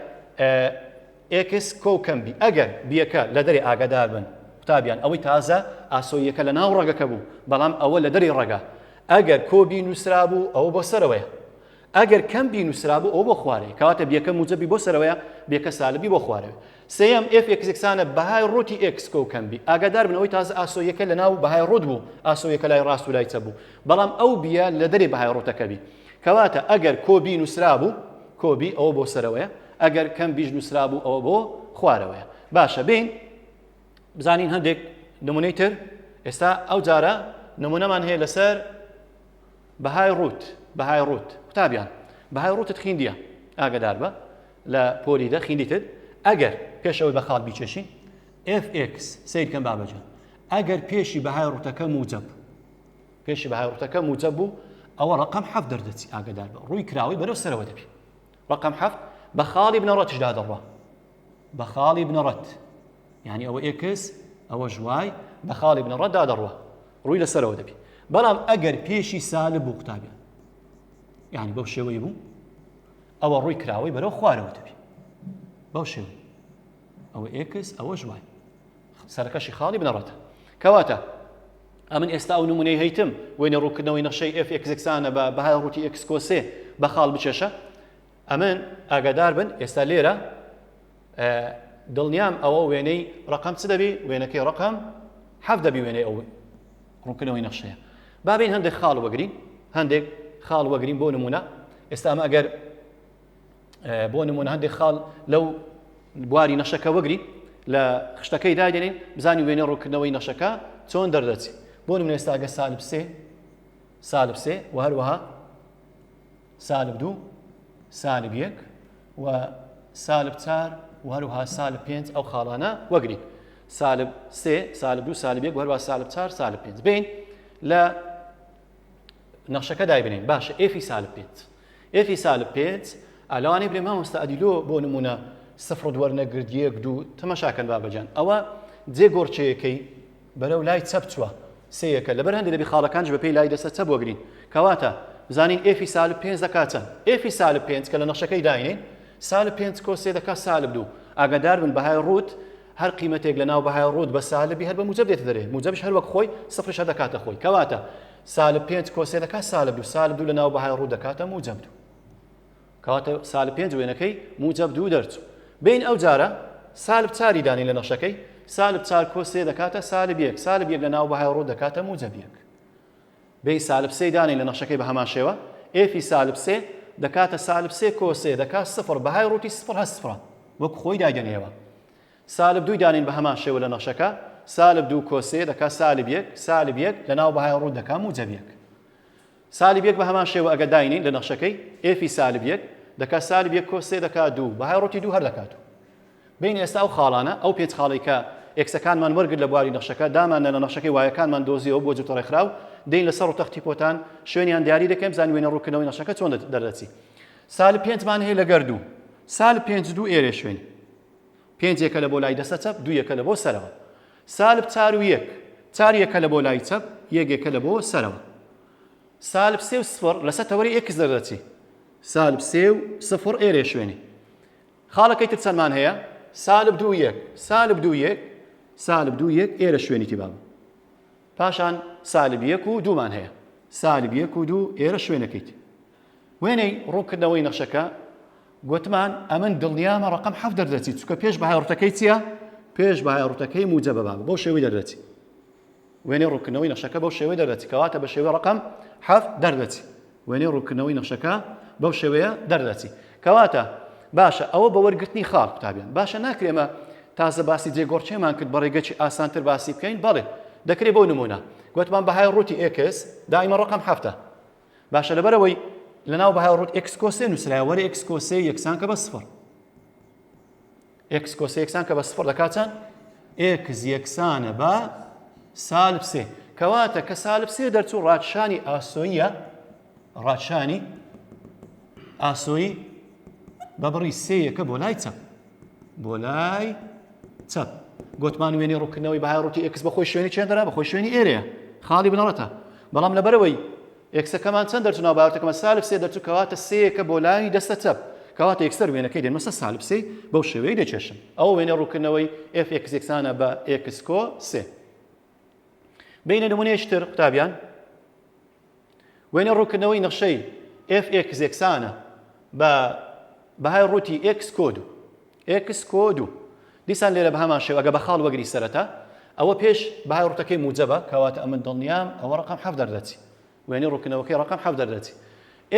Speaker 1: ئێکس کۆکەم بی، ئەگەر بیەکە لە دەرێ ئاگادار بن. قوتابیان ئەوەی تازە ئاسۆییەکە لە ناو ڕەگەکە بوو، بەڵام ئەوە لە دەرێی ڕەگە. ئەگەر کۆ بی نووسرابوو، ئەوە بۆ سەرەوەیە. ئەگەر کەم بی نووسرابوو، ئەوە بۆ خوارەیە. کەواتە بیەکە موجەبی بۆ سەرەوەیە، بیەکە سالبی بۆ خوارەوەیە. سێیەم، ئێف ئێکس یەکسانە بەهای ڕووتی ئێکس کۆ کەم بی. ئاگادار بن ئەوەی تازە ئاسۆییەکە لە ناو بەهای ڕووت بوو، ئاسۆییەکە لای ڕاست و لای چەپ بوو، بەڵام ئەو بییە لە دەرێ بەهای ڕووتەکە بی. کەواتە ئەگەر کۆ بی نووسرابوو، کۆ بی، ئەوە بۆ سەرەوەیە، ئەگەر کەم بیش نووسرابوو، ئەوە بۆ خوارەوەیە. باشە بێین بزانین هەندێک نموونەی تر. ئێستا ئەو جارە نموونەمان هەیە لەسەر بەهای ڕووت، بەهای ڕووت. قوتابیان، بەهای ڕووتت خیندییە، ئاگەدار بە. لە پۆلی دە خیلی تر ئەگەر پێش ئەوەی بە خاڵ بیچێشین fx سیر کەم بابەجان ئەگەر پێشی بەهای ڕوتەکە موجب پێشی بەهای ڕوتەکە موجب بوو ئەوە ڕقم حەف دەردەچی ئاگدار بە ڕووی کراوەی بەرەو سەرەوە دەبی ڕقم حەفت بە خاڵی بنەڕەتشدا دەڕە بە خاڵی بنەڕەت یعنی ئەوە ئێکس ئەوە ژوای بە خاڵی بنەڕەتدا دەڕە ڕووی لەسەرەوە دەبی بەڵام ئەگەر پێشی سالب بوو قوتابیان یعنی بەو شێوەی بوو ئەوە ڕووی کراوەی بەرەو خوارەوە دەبی بەو شێوە ئەوە ئێکس ئەوە ژوای سەرەکەشی خاڵی بنەڕەتە کەواتە ئەمن ئێستا ئەو نمونەی هەیتم وێنە ڕووکردنەوەی نەخشەی F ئێکسکسانە بە بەهای ڕووتی ئێکسکۆسێ بە خاڵ بچێشە ئەمن ئاگادار بن ئێستا لێرە دڵنیام ئەوە وێنەی ڕەقەم چ دەبی وێنەکەی ڕەقەم حەف دەبی وێنەی ئەو ڕوونکردنەوەی نەخشەیە بابین هەندێک خاڵ وەگرین هەندێک خاڵ وەگرین بۆ نمونە ئێستا ئەمە ئەگەر بۆ نمونە هەندێک خاڵ لەو بواری نەشەکە وەگری لە خشتەکەی دادێنین بزانی وێنە ڕووکردنەوەی نەشەکە چۆن دەردەچی بۆ نمونە ئێستاگە سالب سێ سالب سێ و هەروەها سالب دوو سالب یەک و سالب چار و هەروها سالب پێنج ئەو خاڵانە وەگرین سالب سێ سالب دوو سالب یەک هەروە سالب چار سالب پێنج بین لە نەخشەکە دایبنین باشە ئێفی سالب پێنج ئێفی سالب پێنج ئەلوانی برێ مامۆستا ئەدیلۆ بۆ نمونە سفر دووەرنەگرد یەک دوو تەمەشاکەن بابەجان ئەوە جێ گۆڕچەیەکەی بەرەو لای چەپ چوە سێیەکە لەبەر هەندێ دەبی خاڵەکانیش بەپێی لای دەستە چەپ وەگرین کەواتە بزانین ئێفی سالب پێنج دەکات چەند ئێفی سالب پێنج کە لە نەخشەکەی داینێین سالب پێنج کۆس سێ دەکات سالب دوو ئاگادار بن بەهای ڕووت هەر قیمەتێک لە ناو بەهای ڕووت بە سالبی هەر بە موجب دێتە دەرێ موجبش هەر وەک خۆی سفرش هەر دەکاتە خۆی کەواتە سالب پێنج کۆس سێ دەکات سالب دوو سالب دوو لە ناو بەهای ڕوو دەکاتە موجب دوو کەواتە سالب پێنج وێنەکەی موجەب دوو دەرچوو بین ئەوجارە سالب چاری دانێین لە نەخشەکەی سالب چار کۆ سێ دەکاتە سالب یەک سالب یەک لە ناو بەهای ڕوو دەکاتە موجەب یەک بین سالب سێی دانێین لە نەخشەکەی بە هەمان شێوە ئێفی سالب سێ دەکاتە سالب سێ کۆ سێ دەکات سفر بەهای ڕووتی سفر هە سفرە وەک خۆی دایدەنێەوە سالب دووی دانین بە هەمان شێوە لە نەخشەکە سالب دوو کۆ سێ دەکات سالب یەک سالب یەک لە ناو بەهای ڕوو دەکات موجەب یەک سالب یەک بە هەمان شێوە ئەگەر داینێین لە نەخشەکەی، ئێفی سالب یەک، دەکا سالب یەک کۆس سێ دەکا دوو، بەهای ڕووتی دوو هەر دەکا دوو. بێینە ئێستا ئەو خاڵانە، ئەو پێنج خاڵەی کە ئێکسەکانمان وەرگرت لە بواری نەخشەکە، داماننا لە نەخشەکەی وایەکانمان دۆزیەوە بۆ جووتە ڕێکخراو، دێین لە سەر ڕوو تەختی پۆتان، شوێنیان دیاری دەکەین بزانین وێنە ڕووکردنەوەی نەخشەکە چۆن دەردەچی. سالب پێنج مان هەیە لەگەر دوو. سالب پێنج دوو ئێرێ شوێنی. پێنج یەکە لە بۆ لای دەستە چەپ، دوو یەکە لە بۆ سەرەوە. سالب چار و یەک. چار یەکە لە بۆ لای چەپ، یەک یەکە لە بۆ سەرەوە. سالب سێ و سفڕ لە سەر تەوەری ئێکس دەردەچی. سالب سێ و سفڕ ئێرەیە شوێنی. خاڵەکەی تر چەندمان هەیە؟ سالب دوو و یەک. سالب دوو و یەک. سالب دوو و یەک ئێرە شوێنی تیبا بوو. پاشان سالب یەک و دوومان هەیە. سالب یەک و دوو ئێرە شوێنەکەیتی. وێنەی ڕوونکردنەوەی نەخشەکە، گۆتمان ئەمن دڵنیامە ڕەقەم حەفت دەردەچی، چونکە پێش بەهای ڕووتەکەی چییە؟ پێش بەهای ڕووتەکەی موجەبە بابە، بەو شێوەی دەردەچی. وێنەی ڕوونکردنەوەی نەخشەکە بەو شێوەی دەردەچی، کەواتە بە شێوەی ڕەقەم حەفت دەردەچی. وێنەی ڕوونکردنەوەی نەخشەکە بەو شێوەیە دەردەچی. کەواتە باشە ئەوە بە وەرگرتنی خاڵ قوتابیان باشە ناکرێ ئێمە تازە باسی جێگۆڕکێمان کرد بە ڕێگەی ئاسانتر باسی بکەین بەڵێ دەکرێت بۆ نمونە گوتمان بەهای ڕووتی ئێکس دائیمە ڕقم هەفتە باشە لەبەرەوەی لەناو بەهای ڕوت ئەکسکۆسێ نووسراوە وەرە ئەکسکۆسێ یەکسان کە بە سفر ئەکسکۆسێ یەکسان کە بە سفر دەکات چەند ئێکس یەکسانە بە سالب سێ کەواتە کە سالب سێ دەرچوو ڕادشانی ئاسۆیە ڕادشانی ئاسۆی بە بڕی سێیەکە بۆ لای چەپ بۆ لای چەپ گوتمان وێنی ڕووکردنەوەی بەهای ڕووتی ئێکس بەخۆی شوێنی چێندرا بەخۆی شوێنی ئێرەیە خاڵی بنەڕەتە بەڵام لەبەرەوەی ئێکسەکەمان چەند دەرچوو ناوبارتەکەمە سالب سێ دەرچوو کەواتە سێیەکە بۆ لای دەستە چەپ کەواتە یەکسەر وێنەکەی دێنمە سەر سالب سێ بەو شێوەیە دەچێشم ئەو وێنە ڕووکردنەوەی ئێف ئێکس یەکسانە بە ئێکس کۆ سێ بینە نمونەیەکی تر قوتابیان وێنەی ڕوونکردنەوەی نەخشەی FX یەکسانە بە بەهای ڕووتی X کۆد و X کۆد و دیسان لێرە بە هەمان شێوە ئەگە بە خاڵ وەگری سەرەتا ئەوە پێش بەهای ڕوتەکەی موجەبە کەواتە ئەمن دڵنیام ئەوە ڕقم حەف دەردەچی وێنەی ڕووکنەوەکەی ڕقم حەف دەردەچی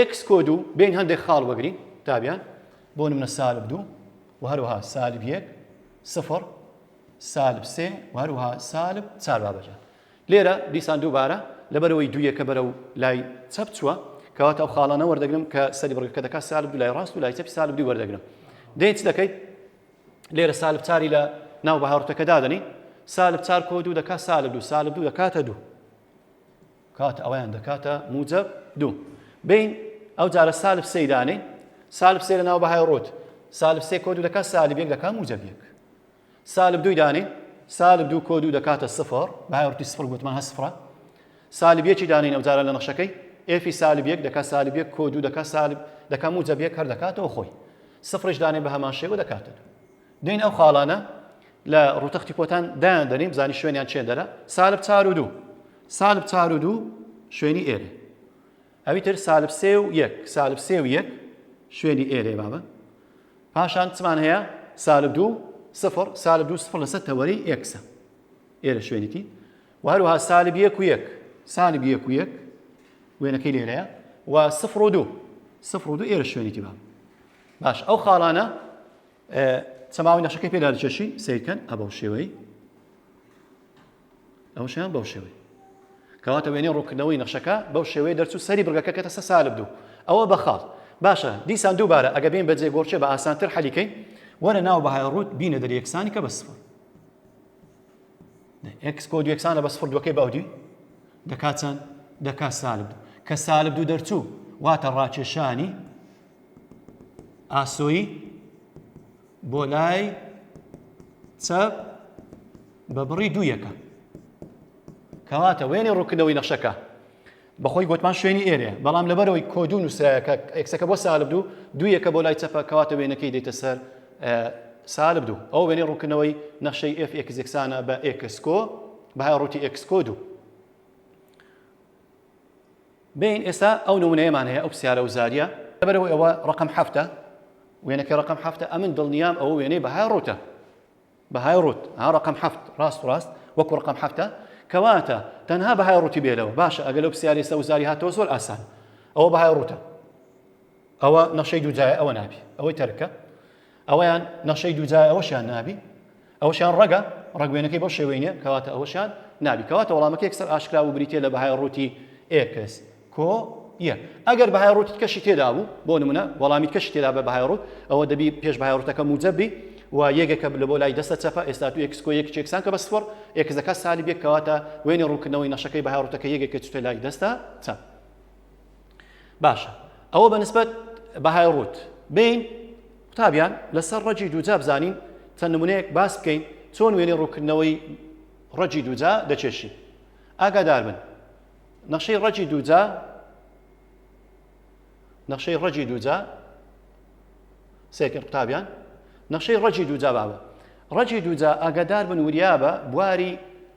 Speaker 1: X کۆد و بین هەندێک خاڵ وەگری تابیان بۆ نمە سالب دوو و هەروها سالب یەک سفر سالب سێ و هەروەها سالب چار بابە جان. لێرە دیسان دووبارە لەبەرەوەی دوویەکە بەرەو لای چەپ چووە کەواتە ئەو خاڵانە وەردەگرم کە سەری بڕگەکە دەکات سالب دوو لای ڕاست و لای چەپی سالب دوو وەردەگرم دەی چ دەکەیت لێرە سالب چاری لە ناو بەهاڕتەکە دادەنی سالب چار کۆ دوو دەکات سالب دوو سالب دوو دەکاتە دوو کات ئەویان دەکاتە موجب دوو بین ئەو جارە سالب سەیدانەی سالب سێ لە ناو بەهای ڕۆت سالب سێ کۆ دوو دەکات سالب یەک دەکات موجب یەک سالب دووی دانی سالب دوو کۆ دوو دەکاتە سفر باورتی سفر گوتمان هە سفرە سالب یەکی دانی نەوجارە لە نەخشەکەی ئێفی سالب یەک دەکات سالب یەک کۆ دوو دەکات سالب دەکە موجب یەک هەر دەکاتەوە خۆی سفرش دانێ بە هەمان شێوە دەکاتە دین ئەو خاڵانە لە ڕوتەختی پۆتان دایان دەنیم زانی شوێنیان چێ دەرە سالب چار و دوو سالب چار و دوو شوێنی ئێرە ئەوی تر سالب سێ و یەک سالب سێ و یەک شوێنی ئێ لێ بابە پاشان چمان هەیە سالب دوو سفر سالب دوو سفر لەسەر تەوەری ئێکسە ئێرە شوێنێتی و هەروها سالب یەک و یەک سالب یەک و یەک وێنەکەی لێرەیە و سفر و دوو سفر و دوو ئێرە شوێنێتی بابە باش ئەو خاڵانە چەماوی نەشەکەی پێدا چێشی سیرکەن ئەبەو شێوەی نەخشەیان بەو شێوەیە کەواتە وێنەی ڕوونکردنەوەی نەخشەکە بەو شێوەیە دەرچوو سەری بڕگەکە کەتە سەر سالب دوو ئەوە بە خاڵ باشە دیسان دووبارە ئەگە بین بە جێگۆڕکێ بە ئاسانتر حەلیکەین وەرە ناو بەهای ڕووت بینە دەری یەکسانی کە بە سفر ئەکس کۆ یەکسانە بە سفر دووەکەی باودی دەکات چەند دەکات سالب کە سالب دوو دەرچوو واتە ڕاکێشانی ئاسۆی بۆ لای چەپ بە بڕی دوو یەکە کەواتە وێنێ ڕووکردنەوەی نەخشەکە بەخۆی گوتمان شوێنی ئێرێ بەڵام لەبەرەوەی کۆدو نووسراەکە ئەکسەکە بۆ سالب دوو دوو یەکە بۆ لای چەپە کەواتە وێنەکەی دێتە سەر سالب دوو ئەو وێنێ ڕووکردنەوەی نەخشەی FXێکسانە بە ئێکسکۆ بەهای ڕووتی ئێکسکۆ دوو بێین ئێستا ئەو نمونەیەمان هەیە ئەو پسیارە و زاریە لەبەرەوە ئەوە ڕقم حەفتە وێنەکە ڕقم حەفتە ئەمن دڵنیام ئەو وێنەی بەهای ڕوتە بەهای ڕوت ها ڕقم حەفت ڕاست ڕاست وەکو ڕقم حەفتە کەواتە تەنها بەهای ڕوتی بێلەوە باشە ئەگەر لەو پسیارێ سەوزاری هاتەوە زۆر ئاسان ئەوە بەهای ڕوتە ئەوە نەشەی دووجای ئەوە نابی ئەوەی تەرکە ئەوەیان نەخشەی دووجای ئەوەشیان نابی ئەوەشیان ڕەگە ڕەگوێنەکەی بەو شێوەی نیە کەواتە ئەوەشیان نابی کەواتە وەڵامەکە یەکسەر ئاشکرا و بریتە لە بەهای ڕووتی ئێکس کۆ یەک ئەگەر بەهای ڕووتت کەشی تێدا بوو بۆ نمونە وەڵامیت کەشی تێدا بە بەهای ڕووت ئەوە دەبی پێش بەهای ڕوتەکە موجەبی و یەکێکە لە بۆ لای دەستە چەپە ئێستا تو ئێکس کۆ یەکی چێکسان کە بە سفر ئێکس دەکات سالی بێک کەواتە وێنی ڕوونکردنەوەی نەشەکەی بەهای ڕوتەکە یەکێکە چتە لای دەستە چەپ باشە ئەوە بە نسبەت بەهای ڕووت بین قوتابیان لەسەر ڕەجی دووجا بزانین چەند نمونەیەک باس بکەین چۆن وێنەی ڕووکردنەوەی ڕەجی دووجا دەچێشین ئاگادار بن نەخشەی ڕەجی دووجا نەخشەی ڕەجی دووجا سێکرد قوتابیان نەخشەی ڕەجی دووجا بابە ڕەجی دووجا ئاگادار بن وریابە بواری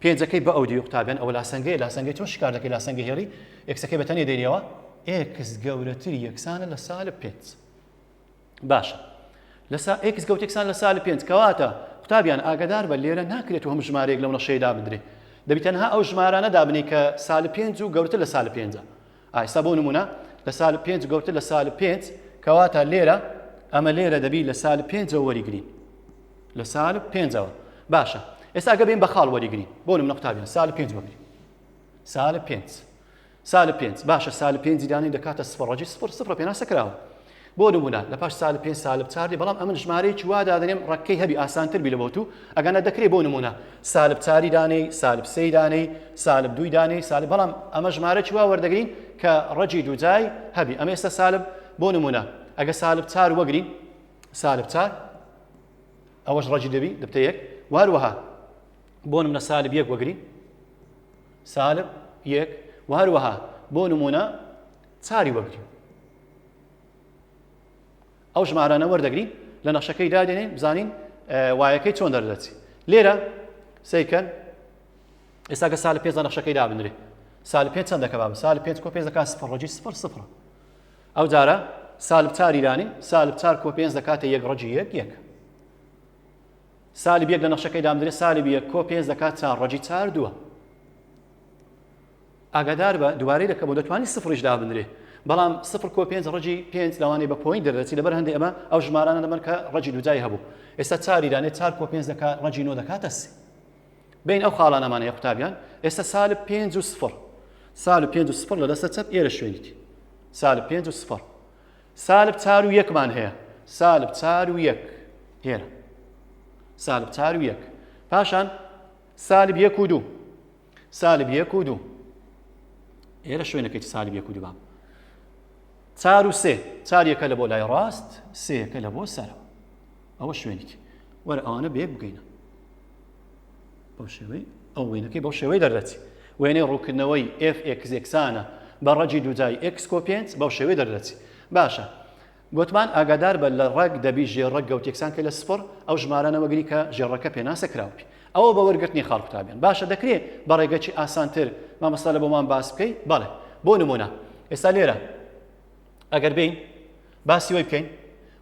Speaker 1: پێنجەکەی بە ئەودیوی قوتابیان ئەوە لاسەنگەیە لاسەنگەی چۆن شکار دەکەی لاسەنگە هێڵی ئێکسەکەی بە تەنێ دێنیەوە ئێکس گەورەتری یەکسانە لە سالب پێنج باشە لەسا ئێکس گەوتێکسان لە سالب پێنج کەواتە قوتابیان ئاگدار بە لێرە ناکرێت و هەم ژمارەیەک لەو نەشەیەدا بدرێت دەبی تەنها ئەو ژمارانە دابنی کە سالب پێنج و گەورتر لە سالب پێنجە ئایستا بۆ نمونە لە سالب پێنج گەورتر لە سالب پێنج کەواتە لێرە ئەمە لێرە دەبی لە سالب پێنجەوە وەریگرین لە سالب پێنجەوە باشە ئێستا گە بین بە خاڵ وەریگرین بۆ نمونە قوتابیان سالب پێنج بگرین سالب پێنج سالب پێنج باشە سالب پێنج دانی دەکاتە سفر ڕەجی سفر سفر پێناسە کراوە بۆ نمونە لە پاش سالب پێنج سالب چار دێ بەڵام ئەمن ژمارەیەکی وا دادەنێم ڕەگکەی هەبی ئاسانتر بی لە بۆ تو ئەگەنا دەکرێ بۆ نمونە سالب چاری دانێی سالب سێی دانێی سالب دووی دانێی سالب بەڵام ئەمە ژمارەکی وا وەردەگرین کە ڕەگی دووجای هەبی ئەمە ئێستا سالب بۆ نمونە ئەگە سالب چار وەگرین سالب چار ئەوەش ڕەگی دەبی دەبتە یەک وهروەها بۆ نمونە سالب یەک وەگرین سالب یەک وهروەها بۆ نمونە چاری وەگرین ئەو ژمارانە وەردەگرین لە نەخشەکەی دادێنین بزانین وایەکەی چۆن دەردەچی لێرە سیکەن ئێستا کە سال پێنج نەخشەکەی دابنرێ سال پێ چەند دەکە باب سال پێنج کۆ پێ دەکات سفر ڕۆژی سفر سفر ئەو جارە سال بچار ایرانی سال بچار کۆ پێنج دەکاتە یەک ڕۆژی یەک یەک سالی بیەک لە نەخشەکەی دامدرێت سالی بیە کۆ پێنج دەکات چار ڕۆژی چار دووە ئاگاداربە دوبارەی دەکەمەوە دەتوانی سفریش دابنرێ بەڵام سفر کۆ پێنج ڕەجی پێنج لەوانەیە بە پۆینت دەردەچی لەبەر هەندێ ئەمە ئەو ژمارانە لەمەر کە ڕەجی دوجای هەبوو ئێستا چاری دانێ چار کۆ پێنج دەکا ڕەجی نۆ دەکاتە سێ بین ئەو خاڵانەمانە یە قوتابیان ئێستا سالب پێنج و سفر سالب پێنج و سفر لە دەستە چەپ ئێرە شوێنیت سالب پێنج و سفر سالب چار و یەکمان هەیە سالب چار و یەک هێرە سالب چار و یەک پاشان سالب یەک و دوو سالب یەک و دوو ئێرە شوێنەکەی سالب یەک و دوو بام چار و سێ چار یەکە لە بۆ لای ڕاست سێەکە لە بۆ سەرەوە ئەوە شوێنێکی وەرە ئەوانە بێک بگەینە بەو شێوەی ئەو وێنەکەی بەو شێوەی دەردەچی وێنەی ڕووکردنەوەی FX یەکسانە بە ڕەجی دوجای X کۆپێنس بەو شێوەی دەردەچی باشە گۆتمان، ئاگادار بە لە ڕەگ دەبی ژێر ڕەگ گەوتێکسان کە لە سفڕ ئەو ژمارانە وەگری کە ژێر ڕەگکە پێناسە کراو بی ئەوە بە وەرگرتنی خاڵ کوتابیان باشە دەکرێ بە ڕێگەکی ئاسان تر مامۆستا لە بۆمان باس بکەی بەڵێ بۆ نمونە ئێستا لێرە ئەگەر بین باسی وەی بکەین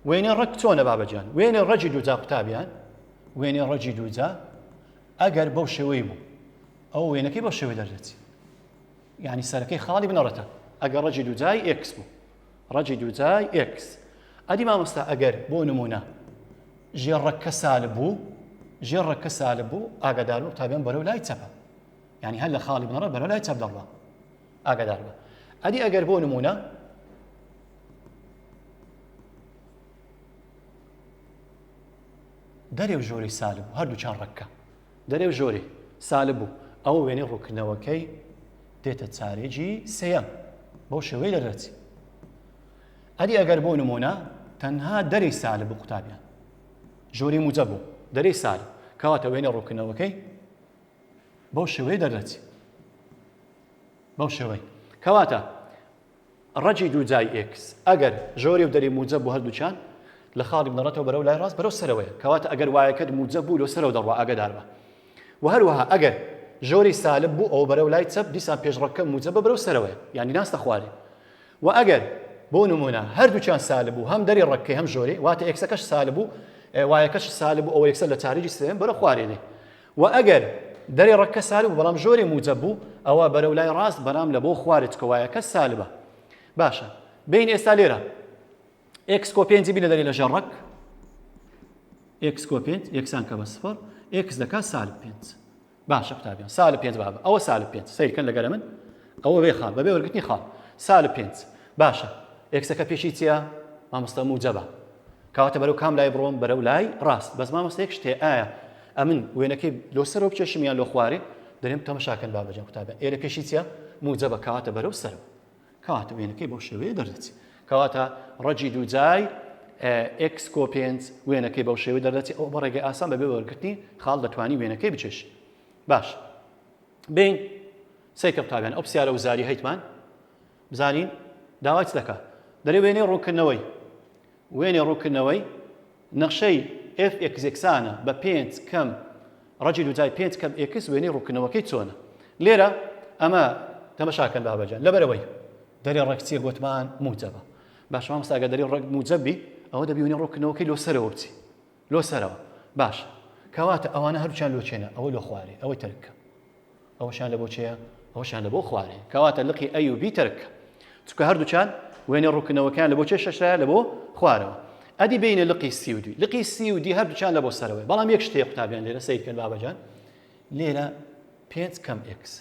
Speaker 1: وێنێ ڕەگ چۆنە بابەجان وێنێ ڕەجی دووجا قوتابیان وێنێ ڕەجی دووجا ئەگەر بەو شێوەی بوو ئەو وێنەکەی بەو شێوەی دەردێت یعنی سەرەکەی خاڵی بنەڕەتە ئەگەر ڕەجی دووجای ئێکس بوو ڕەجی دووجای ئێکس ئەدی مامۆستا ئەگەر بۆ نمونە ژێ ڕەکە سالب بوو ژێ ڕەکە سالب بوو ئاگادار بوو تابیان بەرەو لای چەپە ینی هەر لە خاڵی بنەڕە بەرەو لای چەپ دەڕوە ئاگادار بە ئەدی ئەگەر بۆ نمونە دەرێ و ژۆری سالب هەردوو چان ڕەکە دەرێ و ژۆری سالب و ئەوە وێنەی ڕووکردنەوەکەی دێتە چارێگی سێیەم بەو شێوەی دەردەچی ئەدی ئەگەر بۆ نمونە تەنها دەری سالب و قوتابیان ژۆری موجە بوو دەری سال کەواتە وێنە ڕووکردنەوەکەی بەو شێوەی دەردەچی بەو شێوەی کەواتە ڕەگی دوو جای ئێکس ئەگەر ژۆری و دەری موجەب بوو هەردووکیان لە خاڵی بنەڕەتەوە بەرەو لای ڕاست بەرەو سەرەوەیە کەواتە ئەگەر وایەکەت موجەب بوو لۆ سەرەوە دەڕوا ئاگادار بە وە هەروەها ئەگەر ژۆری سالب بوو ئەوە بەرەو لای چەپ دیسان پێش ڕەگکە موجەبە بەرەو سەرەوەیە یانی ناستە خوارێ وە ئەگەر بۆ نمونە هەردووکیان سالب بوو هەم دەری ڕەگکەی هەم ژۆری واتە ئێکسەکەش سالب بوو وایەکەش سالب بوو ئەوە یەکسەر لە چارجی سێم بەرە خوارێ دێ وە ئەگەر دەرێ ڕەککە سالب بوو بەڵام ژۆرێ موجەب بوو ئەوە بەرەو لای ڕاست بەرام لە بۆ خوارج کەوایەکە سالبە باشە بێین ئێستا لێرە ئێکس کۆ پێنجی بینە دەرێ لە ژێر ڕەک ئێکس کۆ پێنج یەکسان کە بە سفر ئێکس دەکات سالب پێنج باشە قوتابیان سالب پێنج بابە ئەوە سالب پێنج سیرکەن لەگەرە من ئەوە بێ خاڵ بەبێ وەرگتنی خاڵ سالب پێنج باشە ئێکسەکە پێشی چییە مامۆستا موجەبە کەواتە بەرەو کام لای بڕۆم بەرەو لای ڕاست بەس مامۆستا یەک شتێ ئایا ئەمن وێنەکەی لۆ سەرەوە بکێشم یان لۆ خوارێ دەرێم تەمەشاکەن بابەجان قوتابیان ئێرە پێشی چیە موجەبە کەواتە بەرەو سەرەوە کەواتە وێنەکەی بۆ شێوەیە دەردەچی کەواتە ڕەجی دووجای ئکس کۆ پێنج وێنەکەی بەو شێوەی دەردەچی ئەو بە ڕێگەی ئاسان بەبێ وەرگرتنی خاڵ دەتوانی وێنەکەی بچێش باش بین سەیکە قوتابیان ئەو پرسیارە وزاری هەیتمان بزانین داوای چ دەکات. دەرێ وێنەی ڕوونکردنەوەی وێنەی ڕوونکردنەوەی نەخشەی ئێف ئێکس یەکسانە بە پێنج کەم ڕەجی دووجای پێنج کەم ئێکس وێنەی ڕوونکردنەوەکەی چۆنە لێرە ئەمە تەمەشاکەن بابەجان لەبەرەوەی دەرێ ڕەگ چیە گوتمان موجەبە باشمان مستاگە دەرێ ڕەگ موجەبی ئەوە دەبیونی ڕوونکردنەوەکەی لۆ سەرەوە بچی لۆ سەرەوە باشە کەواتە ئەوانە هەردووکیان لۆ چێنە ئەوە لۆ خوارێ ئەوەی تەرک کە ئەوەشیان لەبۆ چێە ئەوەشیان لەبۆ خوارێ کەواتە لقی ئەی و بی تەرک کە چونکە هەردووکیان وێنەی ڕوونکردنەوەکەیان لەبۆ چێ شەشرایە لەبۆ خوارەوە ئەدی بینە لقی سی و دوی لقی سی و دی هەردووکیان لەبۆ سەرەوەی بەڵام یەک شتەیە قوتابیان لێرە سەیرکەن بابەجان لێرە پێنج کەم ئێکس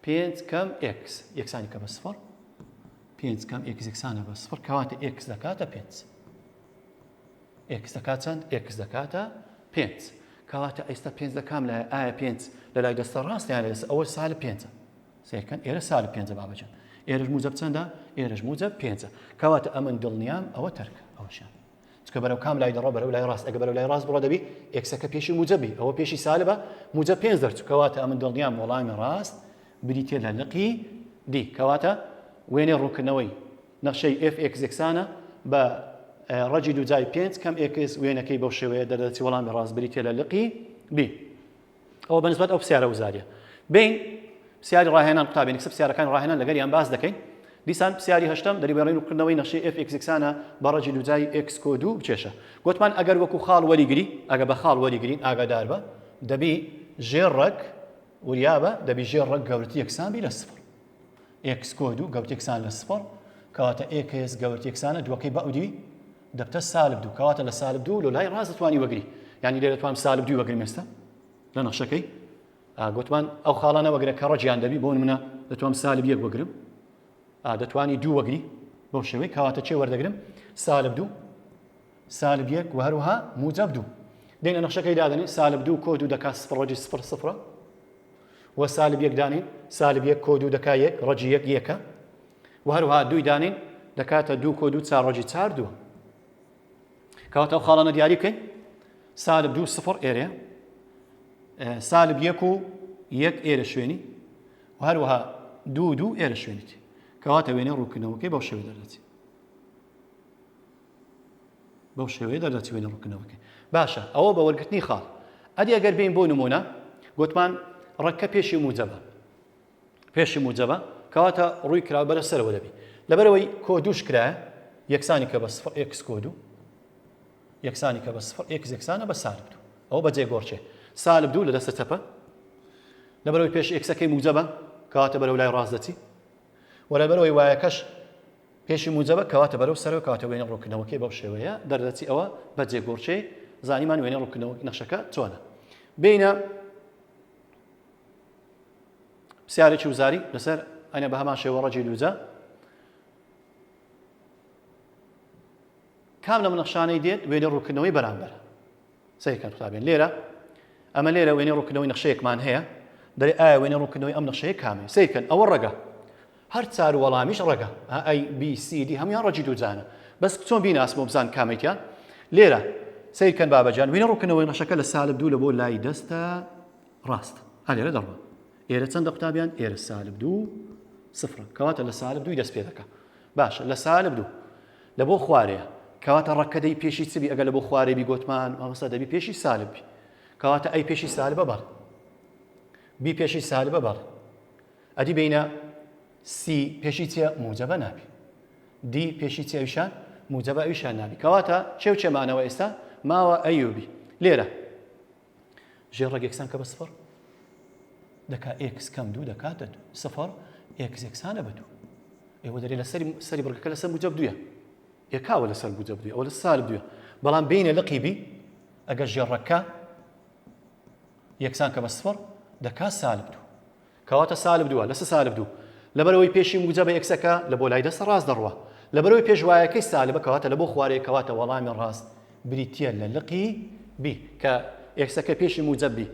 Speaker 1: پێنج کەم ئێکس یەکسانیکە بە سفر پێنج کەم ئێکس یەکسانە بە سفر کەواتە ئێکس دەکاتە پێنج ئێکس دەکات چەند ئێکس دەکاتە پێنج کەواتە ئێستا پێنج لە کام لای ئایا پێنج لە لای دەستە ڕاستیان لەس ئەوە سال پێنجە سیرکەن ئێرە سال پێنجە بابەجان ئێرش موجب چەندە ئێرش موجب پێنجە کەواتە ئەمن دڵنیام ئەوە تەرکە ئەوشان چکە بەرەو کام لای دەڕۆ بەرەو لای ڕاست ئەگە بەرەو لای ڕاست بڕۆ دەبی ئێکسەکە پێشی موجەبی ئەوە پێشی سالبە موجە پێنج دەرچوو کەواتە ئەمن دڵنیام وەڵامی ڕاست بریتە لە لقی دی کەواتە وێنەی ڕوونکردنەوەی نەخشەی ئف ئێکس یەکسانە بە ڕەجی دووجای پێنج کەم ئێکس وێنەکەی بەو شێوەیە دەردەچی وەڵامی ڕاست بریتە لە لقی بی ئەوە بە نسبەت ئەو پرسیارە وزاریە بین پرسیاری ڕاهێنان قوتابین کسە پرسیارەکانی ڕاهێنان لەگەر یان باس دەکەین دیسان پرسیاری هەشتم دەری بەڕین و کردنەوەی نەخشی ئف ئکسکسانە بە ڕەجی دوجای ئکس کۆ دوو بچێشە گوتمان ئەگەر وەکو خاڵ وەریگری ئەگە بە خاڵ وەریگرین ئاگادار بە دەبی ژێر ڕەک وریابە دەبی ژێر ڕەک گەورت یەکسان بی لە سفر ئکس کۆ دوو گەوت یەکسان لە سفر کەواتە ئکس گەورت یەکسانە دووەکەی بە ئەودی دەبتە سالب دوو کەواتە لە سالب دوو لۆ لای ڕاست دەتوانی وەگری یعنی لێ دەتوانم سالب دوی وەگرم ئێستا لە نەخشەکەی گوتمان ئەو خاڵانە وەگرە کە ڕەجیان دەبی بۆن منە دەتوانم سالب یەک وەگرم دەتوانی دوو وەگری بۆ شێوەی کەواتە چێ وەردەگرم سالب دوو سالب یەک و هەروها موجب دوو دێنە نەخشەکەی دادنی سالب دوو کۆ دوو دەکات سفر ڕەجی سفر سفرە وە سالب یەک دانین سالب یەک کۆ دوو دەکا یەک ڕەجی یەک یەکە وە هەروەها دووی دانین دەکاتە دوو کۆ دوو چار ڕەجی چار دووە کەواتە ئەو خاڵانە دیاری بکەین سالب دوو سفر ئێرە سالب یەک و یەک ئێرە شوێنی و هەروەها دوو دوو ئێرە شوێنیت کەواتە وێنە ڕووکردنەوەکەی بەو شێوە دەردەچێت بەو شێوەیە دەردەچوێنە ڕوونکردنەوەکەی. باشە ئەوە بە وەرگرتنی خاڵ. ئەدی ئەگەر بێین بۆ نموونە گوتمان ڕەگکە پێشی موجەبە پێشی موجەبە کەواتە ڕووی کراوە بەرە سەرەوە دەبی لەبەرەوەی کۆ دووش کرایە یەکسانی کە بە سفر ئێکس کۆ دوو یەکسانی کە بە سفر ئێکس یەکسانە بە سالب دوو ئەوە بەجێ گۆڕچێ سالب دوو لە دەستە چەپە لەبەرەوەی پێش ئێکسەکەی موجەبە کەواتە بەرەو لای ڕاست دەچی وەرەبەرەوەی وایەکەش پێشی موجەبە کەواتە بەرەو سەرەوە کەواتە وێنەی ڕوونکردنەوەکەی بەو شێوەیە دەردەچی ئەوە بە جێگۆڕکێی زانیمان وێنەی ڕوونکردنەوەی نەخشەکە چۆنە بینە پرسیارێکی وزاری لەسەر ئەنە بە هەمان شێوە ڕەجی لوجە کام لەم نەخشانەی دێت وێنەی ڕوونکردنەوەی بەرامبەر سەیر کەن قوتابیان لێرە ئەمە لێرە وێنەی ڕوونکردنەوەی نەخشەیەکمان هەیە دەێ ئایا وێنەی ڕوونکردنەوەی ئەم نەخشەیە کامێ سەیر کەن ئەوە ڕەگە هەر چار و وەڵامیش ڕەگە ئای بی سی دی هەموان ڕەجی دووجانە بەس چۆن بیناسم و بزان کامێکە لێرە سەیر کەن بابەجان وێنە ڕوونکردنەوەی نەخشەکە لە سالب دوو لە بۆ لای دەستە ڕاست هەلێرە دەڕوە ئێرە چەندە قوتابیان ئێرە سالب دوو سفرە کەواتە لە سالب دووی دەست پێ دەکە باشە لە سالب دوو لە بۆ خوارەیە کەواتە ڕەکەدەی پێشی چبی ئەگە لە بۆ خوارێ بی گۆتمان مامەستا دەبی پێشی سالب بی کەواتە ئەی پێشی سالبە بەڕ بی پێشی سالبە بەڕ ئەدی بینە سی پێشی چیە موجەبە نابی دی پێشی چی ئەوشان موجەبە ئەوشان نابی کەواتە چێو چێمانەوە ئێستا ماوە ئەیوبی لێرە ژێر ڕێک یەکسان کە بە سفر دەکا ئێکس کەم دوو دەکاتە دوو سفر ئێکس یەکسانە بە دوو ئێوە دەێ لە سەری سەری بڕگەکە لەسەر موجب دوە یەکاوە لەسەر موجب دوێ ئەو لە سال دوێ بەڵام بینە لە قیبی ئەگەر ژێڕەکە یەکسان کە بە سفر دەکا سالب دوو کەواتە سالب دووە لەسە سالب دوو لەبەرئەوەی پێشی موجەبە ئێکسەکە لە بۆ لای دەستە ڕاست دەڕوا لەبەرئەوەی پێشوایەکەی سالبە کەواتە لە بۆ خوارەیە کەواتە وەڵامی ڕاست بریتیە لە لقی بی کە ئێکسەکە پێشی موجەب بی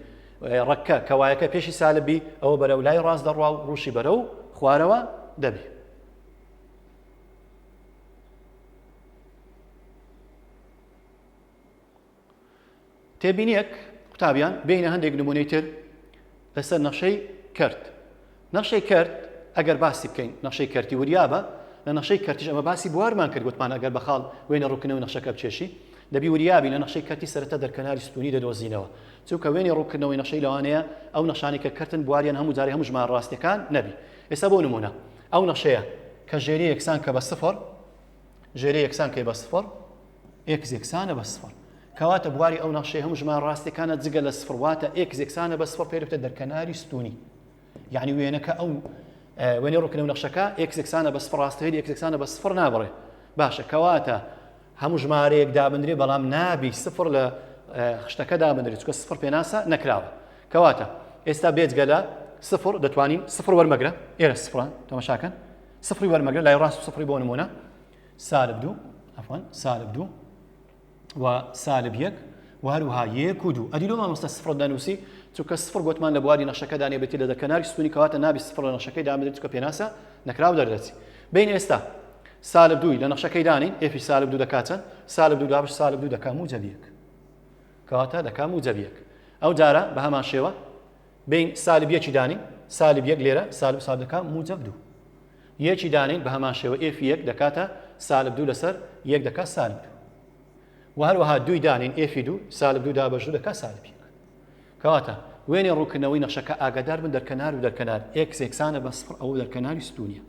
Speaker 1: ڕەککە کە وایەکە پێشی سالب بی ئەوە بەرەو لای ڕاست دەڕوا و ڕوشی بەرەو خوارەوە دەبی تێبینیەک، قوتابیان بێینە هەندێک نمونەی تر لەسەر نەخشەی کەرت. نەخشەی کەرت ئەگەر باسی بکەین نەخشەی کەرتی وریابە، لە نەخشەی کەرتیش ئەمە باسی بوارمان کرد گوتمان ئەگەر بە خاڵ وێنە ڕووکردنەوەی نەخشەکە بکێشی دەبی وریابی لە نەخشەی کەرتی سەرەتا دەرکەناری ستوونی دەدۆزینەوە چونکە وێنەی ڕووکردنەوەی نەخشەی لەوانەیە ئەو نەخشانەی کە کەرتن بواریان هەموو جارەی هەموو ژمارە ڕاستیەکان نەبی ئێستا بۆ نمونە ئەو نەخشەیە کە ژێری یەکسان کە بە سفر ژێرە یەکسان کەی بە سفڕ ئێکس یەکسانە بە سفڕ کەواتە بواری ئەو نەخشەی هەموو ژمان ڕاستەکانە جگە لە سفڕ واتە ئێکس یەکسانە بە سفڕ پێرفتە دەرکەناری ستونی یعنی وێنەکە ئەو وێنەی ڕووکنە و نەخشەکە ئێکس یەکسانە بە سفڕ ڕاستەیە ئێکس یەکسانە بە سفڕ نابڕێ باشە کەواتە هەموو ژمارەیەک دابنرێ بەڵام نابی سفر لە خشتەکە دابنرێت چکە سفر پێناسە نەکراوە کەواتە ئێستا بێجگە لە سفر دەتوانین سفر وەرمەگرە ئێرە سفران تەمەشاکەن سفری وەرمەگرە لای ڕاست سفری بۆ نمونە سالب دوو ئەفۆن سالب دوو و سالب یەک و هەروها یەک و دوو ئەدی لۆ مامۆستا سفر دەنووسی چونکە سفر گوتمان لە بواری نەخشەکەدا نێبێتی لە دەکەناری سوونی کەواتە نابی سفر لە نەخشەکەی دامدرێت چکە پێناسە نەکراو دەردەچی بین ئێستا سالب دووی لە نەخشەکەی دانین ئێفی سالب دوو دەکاتن سالب دوو دابش سالب دوو دەکام و جەبیەک کەواتە دەکام و جەبیەک ئەو جارە بە هەمان شێوە بێین سالب یەکی دانێین سالب یەک لێرە سالب سالب دەکا موجب دوو یەکی دانێین بە هەمان شێوە ئێفی یەک دەکاتە سالب دوو لەسەر یەک دەکا سالب دوو و هەروەها دوی دانین ئێفی دوو سالب دوو دابەش دوو دەکا سالب یەک کەواتە وێنێ ڕووکردنەوەی نەخشەکە ئاگادار بن دەرکەنار و دەرکەنار ئێکس یەکسانە بە سفر ئەو دەرکەناری ستونیە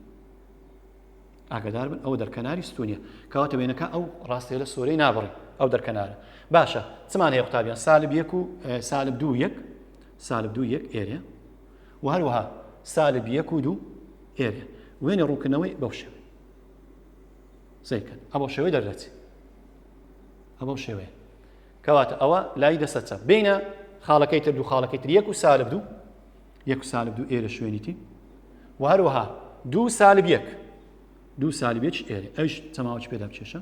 Speaker 1: ئاگادار بن ئەو دەرکەناری ستونیە کەواتە وێنەکە ئەو ڕاستێ لە سۆرەی نابڕی ئەو دەرکەنارە باشە چمان هەیە قوتابیان سالب یەک و سالب دوو یەک سالب دوو یەک ئێرێ و هەروەها سالب یەک و دوو ئێرێ وێنێ ڕوونکردنەوەی بەو شێوێ سیرکەن ئەبەو شێوەی دەردەچێت ئەبەو شێوەیە کەواتە ئەوە لای دەسە چەپ بینە خاڵەکەی تر دوو خاڵەکەی تر یەک و سالب دوو یەک و سالب دوو ئێرە شوێنیتی و هەروەها دوو سالب یەک دوو سالبێک ئێرە ئەوش تەماوەچ پێدا بکێشە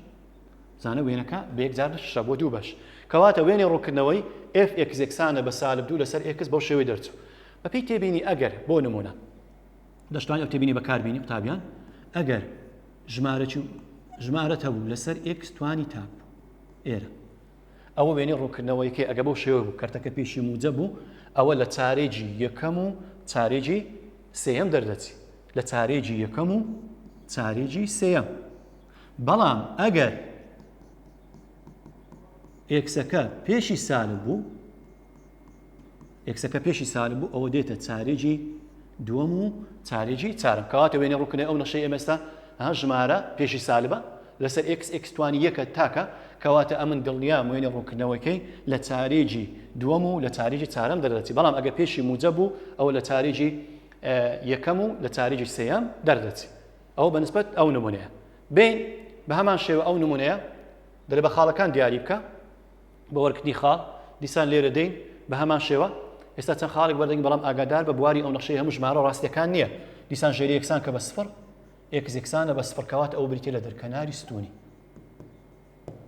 Speaker 1: زانە وێنەکە بە یەکجار نەشرا بۆ دوو بەش کەواتە وێنەی ڕوونکردنەوەی ئێف ئێکس یەکسانە بە سالب دوو لەسەر ئێکس بەو شێوەی دەرچوو بەپێی تێبینی ئەگەر بۆ نموونە دەشتوانین ئەو تێبینی بەکاربینی قوتابیان ئەگەر ژمارە ژمارەت هەبوو لەسەر ئێکس توانی تاپ ئێرە ئەوە وێنەی ڕوونکردنەوەیکە ئەگە بەو شێوە بوو کەرتەکە پێشی موجە بوو ئەوە لە چارێجی یەکەم و چارێجی سێم دەردەچی لە چارێجی یەکەم و چارێجی سێم بەڵام ئەگەر ئێکسەکە پێشی سالب بوو ئێکسەکە پێشی سالب بوو ئەوە دێتە چارێکی دووەم و چارێکی چارم کەواتە وێنە ڕووکنێ ئەو نەشەی ئێمەستا ها ژمارە پێشی سالبە لەسەر ئکس ئکسوانی یەکە تاکە کەواتە ئەمن دڵنیا وێنە ڕوونکردنەوەکەی لە چارێکی دووەم و لە چارێکی چارم دەردەچی بەڵام ئەگە پێشی موجە بوو ئەوە لە چارێکی یەکەم و لە چارێکی سەیەم دەردەچی ئەوە بە نسبەت ئەو نمونەیە. بێین بە هەمان شێوە ئەو نمونەیە دەرە بە خاڵەکان دیاری بکە بۆ وەرکردنی خاڵ دیسان لێرە دێین بە هەمان شێوە ئێستا چەند خاڵێک بەردەنگ بەڵام ئاگادار بە بواری ئەو نەخشەی هەموو ژمارە ڕاستیەکان نییە دیسان ژێری یەکسان کە بە سفر ئێکس یەکسانە بە سفر کەوات ئەو بریتە لە دەرکەناری ستونی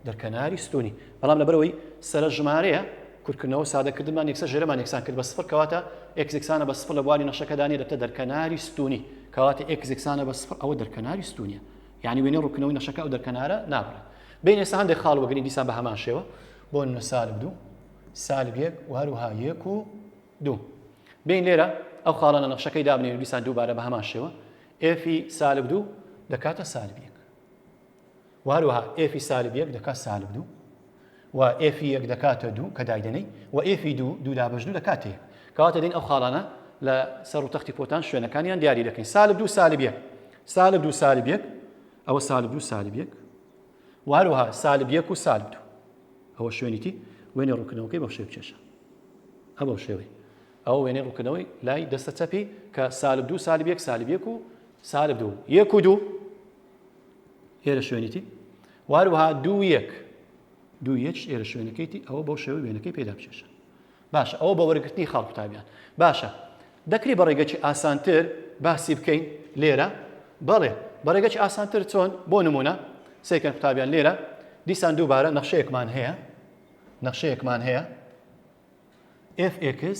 Speaker 1: دەرکەناری ستوونی بەڵام لەبەرئەوەی سەرە ژمارەیە کورتکردنەوە سادەکردنمان یەکسەر ژێرەمان یەکسان کرد بە سفر کەواتە ئێکس یەکسانە بە سفر لە بواری نەخشەکەدا نیە دەبتە دەرکەناری ستوونی کەواتە ئێکس یەکسانە بە سفر ئەوە دەرکەناری ستوونیە یعنی وێنەی ڕوونکردنەوەی نەخشەکە ئەو دەرکەنارە نابڕێت بین ئێستا هەندێک خاڵ وەگرین دیسان بە هەمان شێوە بۆ نە سالب دوو سالب یەک و هەروها یەک و دوو بین لێرە ئەو خاڵانە نەخشەکەی دابنێن دیسان دووبارە بە هەمان شێوە ئێفی سالب دوو دەکاتە سالب یەک و هەروەها ئێفی سالب یەک دەکات سالب دوو و ئێفی یەک دەکاتە دوو کە دایدەنەی و ئێفی دوو دوو لا بەش دوو دەکات هەیە کەواتە دێن ئەو خاڵانە لە سەر و تەختی پۆتان شوێنەکانیان دیاری دەکەین سالب دوو سالب یەک سالب دوو سالب یەک ئەوە سالب دوو سالب یەک و هەروەها سالب یەک و سالب دوو ئەوە شوێنیتی وێنێ ڕوونکردنەوەکەی بەو شێو چێشە هە بەو شێوەی ئەو وێنێ ڕوونکردنەوەی لای دەستە چەپی کە سالب دوو سالب یەک سالب یەک و سالب دوو یەک و دوو ئێرە شوێنیتی واروها دوو یەک دوو یەک ئێرە شوێنەکەیتی ئەوە بەو شێوە وێنەکەی پێدا بچێشە باشە ئەوە بە وەرگرتنی خاڵ قوتابیان باشە دەکری بە ڕێگەکی ئاسانتر باسی بکەین لێرە بەڵێ بەڕێگەکی ئاسانتر چۆن بۆ نمونە سێکەن قوتابیان لێرە دیسان دووبارە نەخشەیەکمان هەیە نەخشەیەکمان هەیە FX